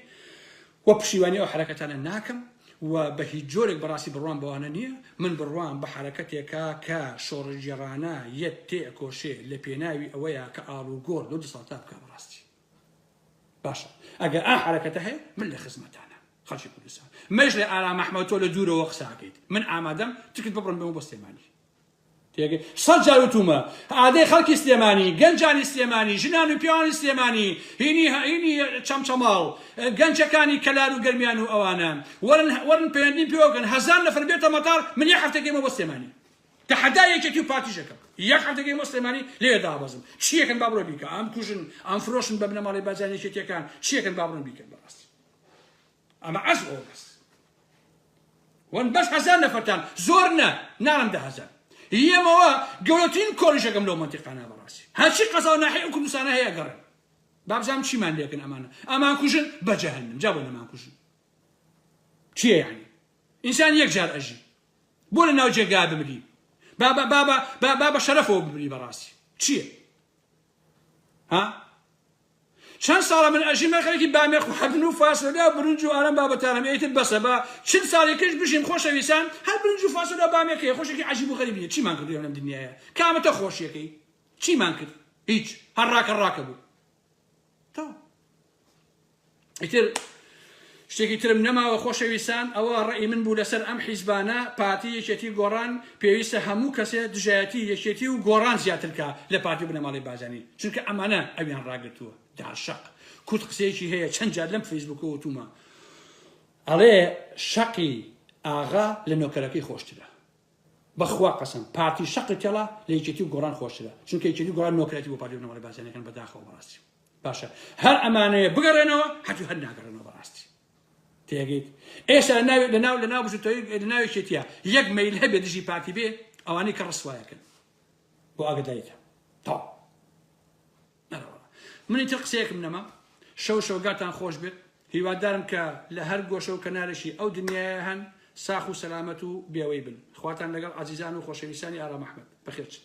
و پشیوانی ئەو حەرەکەتانە ناکەم و بە هیچ جۆرێک بەڕاستی بڕوام بەوانە نییە من بڕوام بە حەرەکەتێکە کە شۆڕشگێڕانە یەت تێ ئەکۆشێ لە پێناوی ئەوەیە کە ئاڵوگۆڕ لەو دەسەڵاتە بکا بەڕاستی باشە ئەگەر ئا حەرەکەتە هەیە من لە خزمەتانە خەڵکی کوردستان مەش لە ئارام ئەحمەد تۆ لە دوورەوە قساکەیت من ئامادەم تکت ببڕم بەمە بۆ سلێمانی تێگەی سەد جار وتومە ئادەی خەڵکی سلێمانی گەنجانی سلێمانی ژنان و پیاوانی سلێمانی هینی هینی چەمچەماڵ گەنجەکانی کەلار و گەرمیان و ئەوانە وەرن وەرن پەیوەندیم پێوە بکەن هەزار نەفەر بێتە مەتار من یەک هەفتە گەیمە بۆ سلێمانی تەحەدا یەکێتی و پارتیش ئەکەم یەک هەفتە گەیمە بۆ سلێمانی لێ دابەزم چیەکەن با بڕۆ بیکە ئەم کوژن ئەم فرۆشن بە بنەماڵەی بەرزانی یەکێتیەکان چیەکەن با بڕۆن بیکەن بەڕاستی ئەمە عەز ئۆ بەس وەن بەس هەزار نەفەرتان زۆر نە نارم دە هەزار یەمەوە گەورەترین کۆلیژەکەم لەو مەنتیقانە بەڕاستی هەرچی قەزا و ناحیە و کوردستانە هەیە گەڕێن بابزانم چیمان لێکن ئەمانە ئەمان کوژن بە جەهەنم جا بۆ نەمان کوژن چیە یعنی ئینسان یەک جار ئەژی بۆ لە ناو جێگا بمری بابا بابا بابا بە شەرەفەوە بمری بەڕاستی چییە ها چەن ساڵە من ئەژیم من خەرکی بامێخ و حەدن و فاسۆلیا و برنج و ئارەم بابەتانم ئێتر بەسە با چل ساڵی کەش بژیم خۆشە ویسان هەر برنج و فاسۆلیا و بامێکەیە خۆشێکی عەجیب و غەریبیە چیمان کردو لەم دنیایە کامەتە خۆشیەکەی چیمان کرد هیچ هەر ڕاکە ڕاکە بوو تەو ئیتر شتێکی ترم نەماوە خۆشەویستان ئەوە ڕێی من بوو لەسەر ئەم حیزبانە پارتی یەکێتی گۆڕان پێویستە هەموو کەسێ دژایەتی یەکێتی و گۆڕان زیاترکە لە پارتی و بنەماڵەی بارزانی چونکە ئەمانە ئەویان ڕاگرتووە داشەق کورد قسەیەکی هەیە چەند جار لەم فەیسبووکە وتومە ئەڵێ شەقی ئاغا لە نۆکەرەکەی خۆشترە بەخوا قەسم پارتی شەقی تێڵا لە یەکێتی و گۆڕان خۆشترە چونکە یەکێتی گۆڕان نۆکرەتی بۆ پارتی و نەوەڵی بازیانەکان بەداخەوە بەڕاستی باشە هەر ئەمانەیە بگەڕێنەوە حەجو هەر ناگەڕێنەوە بەڕاستی تێگەیت ئێستا لە ناوێت لە ناو لە ناو بژتەوەی لە ناوێکێتە یەک مەیل هەبێ دژی پارتی بێ ئەوانەی کە ڕسوایەکەن بۆ ئاگدایتە تا منی تر قسەیەکم نەما شەو شەوگاتان خۆش بێت هیوادارم کە لە هەر گۆشە و کەنارێکی ئەو دنیاە هەن ساخ و سەلامەت و بێوەی بن خواتان لەگەڵ عزیزان و خۆشەویستانی ئارام ئەحمد بەخێرچن